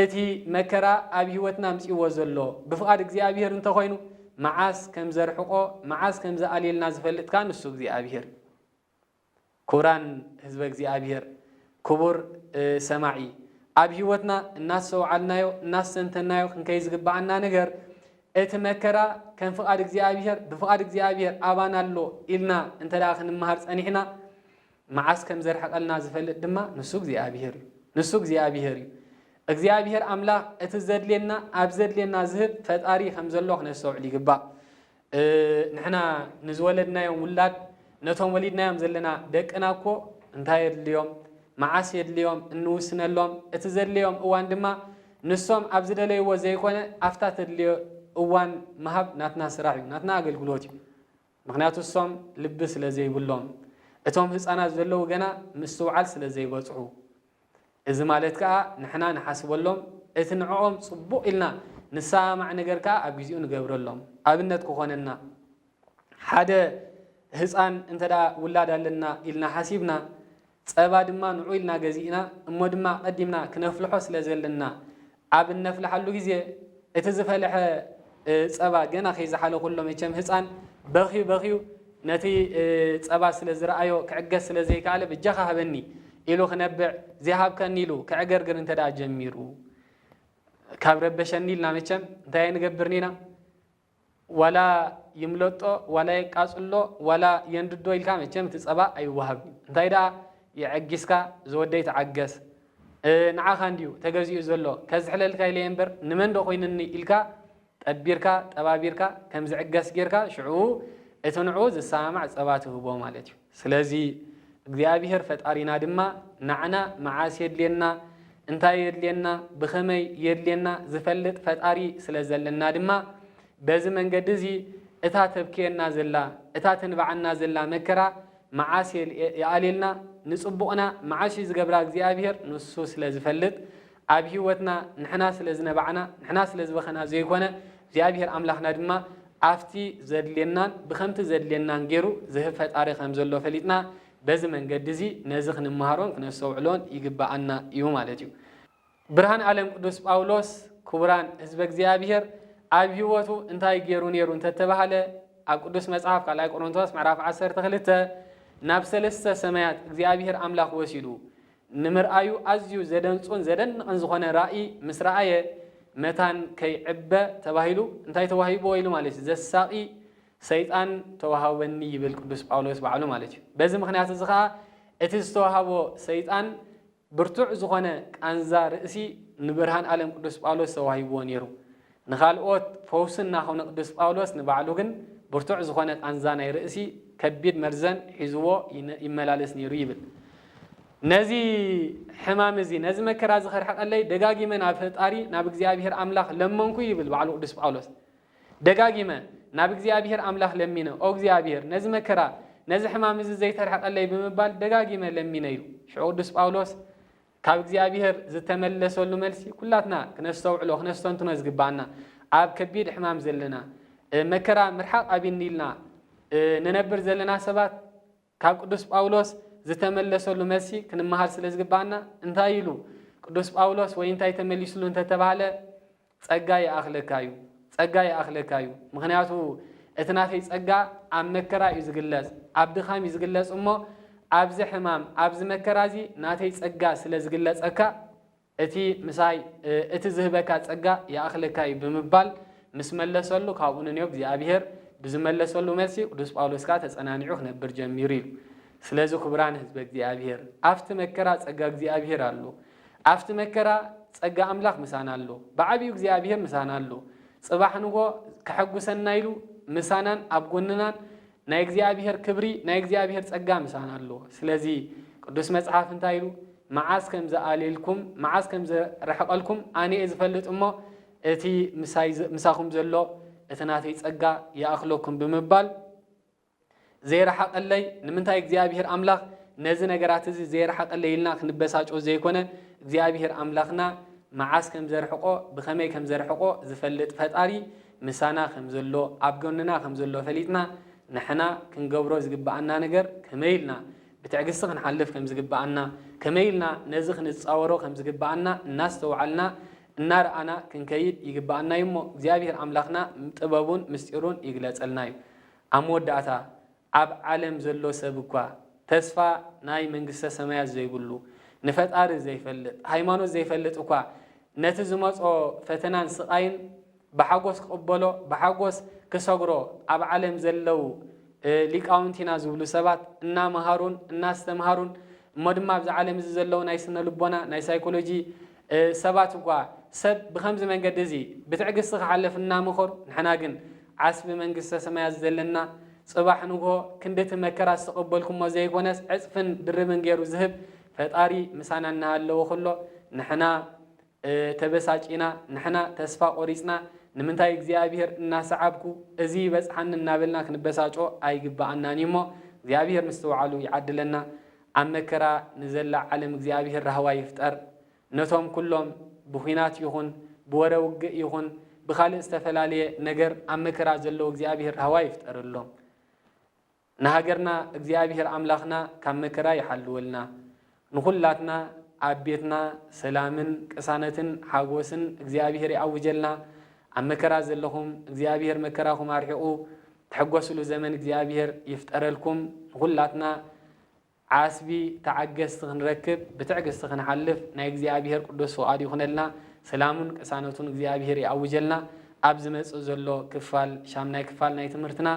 A: እቲ መከራ ኣብ ህይወትና ኣምጺእዎ ዘሎ ብፍቓድ እግዚኣብሄር እንተ ኾይኑ መዓስ ከም ዘርሕቖ፣ መዓስ ከም ዝኣልየልና ዝፈልጥ ከኣ ንሱ እግዚኣብሄር እዩ። ክቡራን ህዝበ እግዚኣብሔር ክቡር ሰማዒ ኣብ ሕይወትና እናስተውዓልናዮ እናስተንተንናዮ ክንከይ ዝግብኣና ነገር እቲ መከራ ከም ፍቓድ እግዚኣብሔር ብፍቓድ እግዚኣብሔር ኣባና ኣሎ ኢልና እንተ ክንመሃር ጸኒሕና መዓስ ከም ዘርሕቐልና ዝፈልጥ ድማ ንሱ እግዚኣብሔር እዩ ንሱ እግዚኣብሔር እዩ እግዚኣብሔር ኣምላኽ እቲ ዘድልየና ኣብ ዘድልየና ዝህብ ፈጣሪ ከም ዘሎ ክነስተውዕል ይግባእ ንሕና ንዝወለድናዮም ውላድ ነቶም ወሊድናዮም ዘለና ደቅና እኮ እንታይ የድልዮም፣ መዓስ የድልዮም እንውስነሎም፣ እቲ ዘድለዮም እዋን ድማ ንሶም ኣብ ዝደለይዎ ዘይኮነ ኣብታ ተድልዮ እዋን ምሃብ ናትና ስራሕ እዩ፣ ናትና ኣገልግሎት እዩ። ምኽንያቱ እሶም ልቢ ስለዘይብሎም፣ እቶም ህፃናት ዘለዉ ገና ምስትውዓል ስለዘይበፅሑ። እዚ ማለት ከኣ ንሕና ንሓስበሎም፣ እቲ ንዕኦም ጽቡቕ ኢልና ንሰማማዕ ነገር ከኣ ኣብ ግዜኡ ንገብረሎም። ኣብነት ክኾነና፣ ሓደ ህጻን እንተ ውላድ ኣለና ኢልና ሓሲብና፣ ጸባ ድማ ንዑ ኢልና ገዚእና እሞ ድማ ኣቐዲምና ክነፍልሖ ስለ ዘለና፣ ኣብ እነፍልሓሉ ግዜ እቲ ዝፈለሐ ጸባ ገና ከይዘሓለ ኩሎ መቸም ህጻን በኽዩ በኽዩ ነቲ ጸባ ስለ ዝረኣዮ ክዕገስ ስለ ዘይከኣለ ብጃኻ ሃበኒ ኢሉ ክነብዕ ዘይሃብካኒ ኢሉ ከዕገርግር እንተደኣ ጀሚሩ ካብ ረበሸኒ ኢልና መቸም እንታይ ኣይንገብርን ኢና ዋላ ይምለጦ ዋላ የቃጽሎ ዋላ የንድዶ ኢልካ መቸም እቲ ጸባ ኣይወሃብን እዩ እንታይ ደኣ የዐጊስካ ዝወደይ ተዓገስ ንዓኻ እንድዩ ተገዚኡ ዘሎ ከዝሕለልካ ኢለየ እምበር ንመን ዶ ኮይንኒ ኢልካ ጠቢርካ ጠባቢርካ ከምዝዕገስ ጌርካ ሽዑ እቲ ንዕኡ ዝሰማማዕ ጸባ ትህቦ ማለት እዩ። ስለዚ እግዚኣብሄር ፈጣሪና ድማ ናዕና መዓስ የድልየና እንታይ የድልየና ብኸመይ የድልየና ዝፈልጥ ፈጣሪ ስለ ዘለና ድማ በዚ መንገዲ እዚ እታ ተብክየና ዘላ እታ ተንብዓና ዘላ መከራ መዓስ ይኣልየልና ንጽቡቕና መዓስ እዩ ዝገብራ እግዚኣብሄር ንሱ ስለ ዝፈልጥ ኣብ ህይወትና ንሕና ስለ ዝነባዕና፣ ንሕና ስለ ዝበኸና ዘይኮነ፣ እግዚኣብሄር ኣምላኽና ድማ ኣብቲ ዘድልየናን ብኸምቲ ዘድልየናን ገይሩ ዝህብ ፈጣሪ ከም ዘሎ ፈሊጥና፣ በዚ መንገዲ እዚ ነዚ ክንመሃሮን ክነስተውዕሎን ይግበኣና እዩ ማለት እዩ። ብርሃን ዓለም ቅዱስ ጳውሎስ ክቡራን ህዝበ እግዚኣብሄር ኣብ ህይወቱ እንታይ ገይሩ ነይሩ እንተተባህለ ኣብ ቅዱስ መጽሓፍ ካልኣይ ቆሮንቶስ ምዕራፍ ዓሰርተ ክልተ ናብ ሰለስተ ሰማያት እግዚኣብሄር ኣምላኽ ወሲዱ ንምርኣዩ ኣዝዩ ዘደንጹን ዘደንቕን ዝኾነ ራኢ ምስ ረኣየ፣ መታን ከይዕበ ተባሂሉ እንታይ ተዋሂብዎ ኢሉ ማለት እዩ፣ ዘሳቒ ሰይጣን ተዋሃበኒ ይብል ቅዱስ ጳውሎስ ባዕሉ ማለት እዩ። በዚ ምኽንያት እዚ ኸኣ እቲ ዝተዋሃቦ ሰይጣን ብርቱዕ ዝኾነ ቃንዛ ርእሲ ንብርሃን ኣለም ቅዱስ ጳውሎስ ተዋሂብዎ ነይሩ። ንኻልኦት ፈውሲ እናኾኑ ቅዱስ ጳውሎስ ንባዕሉ ግን ብርቱዕ ዝኾነ ቃንዛ ናይ ርእሲ ከቢድ መርዘን ሒዝዎ ይመላለስ ነይሩ ይብል። ነዚ ሕማም እዚ ነዚ መከራ እዚ ከርሕቀለይ ደጋጊመ ናብ ፈጣሪ ናብ እግዚኣብሔር ኣምላኽ ለመንኩ ይብል ባዕሉ ቅዱስ ጳውሎስ። ደጋጊመ ናብ እግዚኣብሔር ኣምላኽ ለሚነ ኦ እግዚኣብሔር ነዚ መከራ ነዚ ሕማም እዚ ዘይተርሕቀለይ ብምባል ደጋጊመ ለሚነ ኢሉ። ሽዑ ቅዱስ ጳውሎስ ካብ እግዚኣብሔር ዝተመለሰሉ መልሲ ኩላትና ክነስተውዕሎ ክነስተንትኖ ዝግብኣና ኣብ ከቢድ ሕማም ዘለና መከራ ምርሓቕ ኣቢኒ ኢልና ንነብር ዘለና ሰባት ካብ ቅዱስ ጳውሎስ ዝተመለሰሉ መልሲ ክንመሃር ስለ ዝግብኣና እንታይ ኢሉ ቅዱስ ጳውሎስ ወይ እንታይ ተመሊስሉ እንተተባህለ ጸጋ ይኣኽለካ እዩ ጸጋ ይኣኽለካ እዩ ምኽንያቱ እቲ ናተይ ጸጋ ኣብ መከራ እዩ ዝግለጽ ኣብ ድኻም እዩ ዝግለጽ እሞ ኣብዚ ሕማም ኣብዚ መከራ እዚ ናተይ ጸጋ ስለ ዝግለጸካ እቲ ምሳይ እቲ ዝህበካ ጸጋ ይኣኽለካ እዩ ብምባል ምስ መለሰሉ ካብኡ ንንዮ እግዚኣብሔር ብዝመለሰሉ መልሲ ቅዱስ ጳውሎስ ከኣ ተጸናኒዑ ክነብር ጀሚሩ ኢሉ ስለዚ ክቡራን ህዝበ እግዚኣብሔር ኣብቲ መከራ ጸጋ እግዚኣብሔር ኣሎ ኣብቲ መከራ ጸጋ ኣምላኽ ምሳና ኣሎ። ብዓቢኡ እግዚኣብሄር ምሳና ኣሎ። ጽባሕ ንግሆ ከሐጉሰና ኢሉ ምሳናን ኣብ ጎንናን ናይ እግዚኣብሄር ክብሪ ናይ እግዚኣብሄር ጸጋ ምሳና ኣሎ። ስለዚ ቅዱስ መጽሓፍ እንታይ ኢሉ መዓስ ከም ዝኣልየልኩም መዓስ ከም ዝርሕቀልኩም ኣነ እየ ዝፈልጥ እሞ እቲ ምሳይ ምሳኹም ዘሎ እቲ ናተይ ጸጋ ይኣኽለኩም ብምባል ዘይረሓቐለይ? ንምንታይ እግዚኣብሄር ኣምላኽ ነዚ ነገራት እዚ ዘይረሓቐለይ ኢልና ክንበሳጮ ዘይኮነ፣ እግዚኣብሄር ኣምላኽና መዓስ ከም ዘርሕቖ፣ ብኸመይ ከም ዘርሕቖ ዝፈልጥ ፈጣሪ ምሳና ከም ዘሎ፣ ኣብ ጎንና ከም ዘሎ ፈሊጥና ንሕና ክንገብሮ ዝግብኣና ነገር ከመይ ኢልና ብትዕግስቲ ክንሓልፍ ከም ዝግብኣና፣ ከመይ ኢልና ነዚ ክንጻወሮ ከም ዝግብኣና እናስተውዓልና እናረኣና ክንከይድ ይግብኣና እዩ እሞ እግዚኣብሄር ኣምላኽና ጥበቡን ምስጢሩን ይግለጸልና እዩ። ኣብ መወዳእታ፣ ኣብ ዓለም ዘሎ ሰብ እኳ፣ ተስፋ ናይ መንግስተ ሰማያት ዘይብሉ፣ ንፈጣሪ ዘይፈልጥ፣ ሃይማኖት ዘይፈልጥ እኳ፣ ነቲ ዝመጾ ፈተናን ስቓይን ብሓጎስ ክቕበሎ፣ ብሓጎስ ክሰግሮ፣ ኣብ ዓለም ዘለው ሊቃውንቲ ኢና ዝብሉ ሰባት እናመሃሩን እናስተምሃሩን፣ እሞ ድማ ኣብዚ ዓለም እዚ ዘለው ናይ ስነ ልቦና፣ ናይ ሳይኮሎጂ ሰባት እኳ፣ ሰብ ብኸምዚ መንገዲ እዚ ብትዕግስቲ ክሓልፍ እናመኸሩ፣ ንሕና ግን ዓስቢ መንግስተ ሰማያት ዘለና ጽባሕ ንግሆ ክንዲ እቲ መከራ ዝተቀበልኩሞ ዘይኮነስ ዕጽፍን ድርብን ጌሩ ዝህብ ፈጣሪ ምሳና እናሃለወ ኩሎ ንሕና ተበሳጪና ንሕና ተስፋ ቆሪጽና ንምንታይ እግዚኣብሄር እናሰዓብኩ እዚ ይበጽሓኒ እናበልና ክንበሳጮ ኣይግበኣናን እዩ እሞ እግዚኣብሄር ምስትውዓሉ ይዓድለና ኣብ መከራ ንዘላ ዓለም እግዚኣብሄር ራህዋ ይፍጠር ነቶም ኩሎም ብኩናት ይኹን ብወረ ውግእ ይኹን ብካልእ ዝተፈላልየ ነገር ኣብ መከራ ዘለዉ እግዚኣብሄር ራህዋ ይፍጠረሎም። ንሃገርና እግዚኣብሄር ኣምላኽና ካብ መከራ ይሓልወልና። ንኹላትና ኣብ ቤትና ሰላምን ቅሳነትን ሓጎስን እግዚኣብሄር ይኣውጀልና። ኣብ መከራ ዘለኹም እግዚኣብሄር መከራኹም ኣርሒቑ ትሕጎስሉ ዘመን እግዚኣብሄር ይፍጠረልኩም። ንኹላትና ዓስቢ ተዓገስቲ ክንረክብ ብትዕግስቲ ክንሓልፍ ናይ እግዚኣብሄር ቅዱስ ፍቃድ ይኹነልና ሰላሙን ቅሳነቱን እግዚኣብሄር ይኣውጀልና ኣብ ዝመጽእ ዘሎ ክፋል ሻምናይ ክፋል ናይ ትምህርትና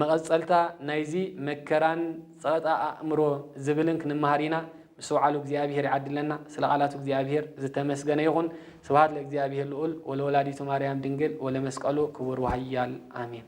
A: መቀጸልታ ናይዚ መከራን ጸቅጣ ኣእምሮ ዝብልን ክንመሃር ኢና ምስትውዓሉ እግዚኣብሄር ይዓድለና ስለ ቃላቱ እግዚኣብሄር ዝተመስገነ ይኹን ስብሃት ለእግዚኣብሄር ልኡል ወለወላዲቱ ማርያም ድንግል ወለመስቀሉ ክቡር ወሃያል ኣሜን።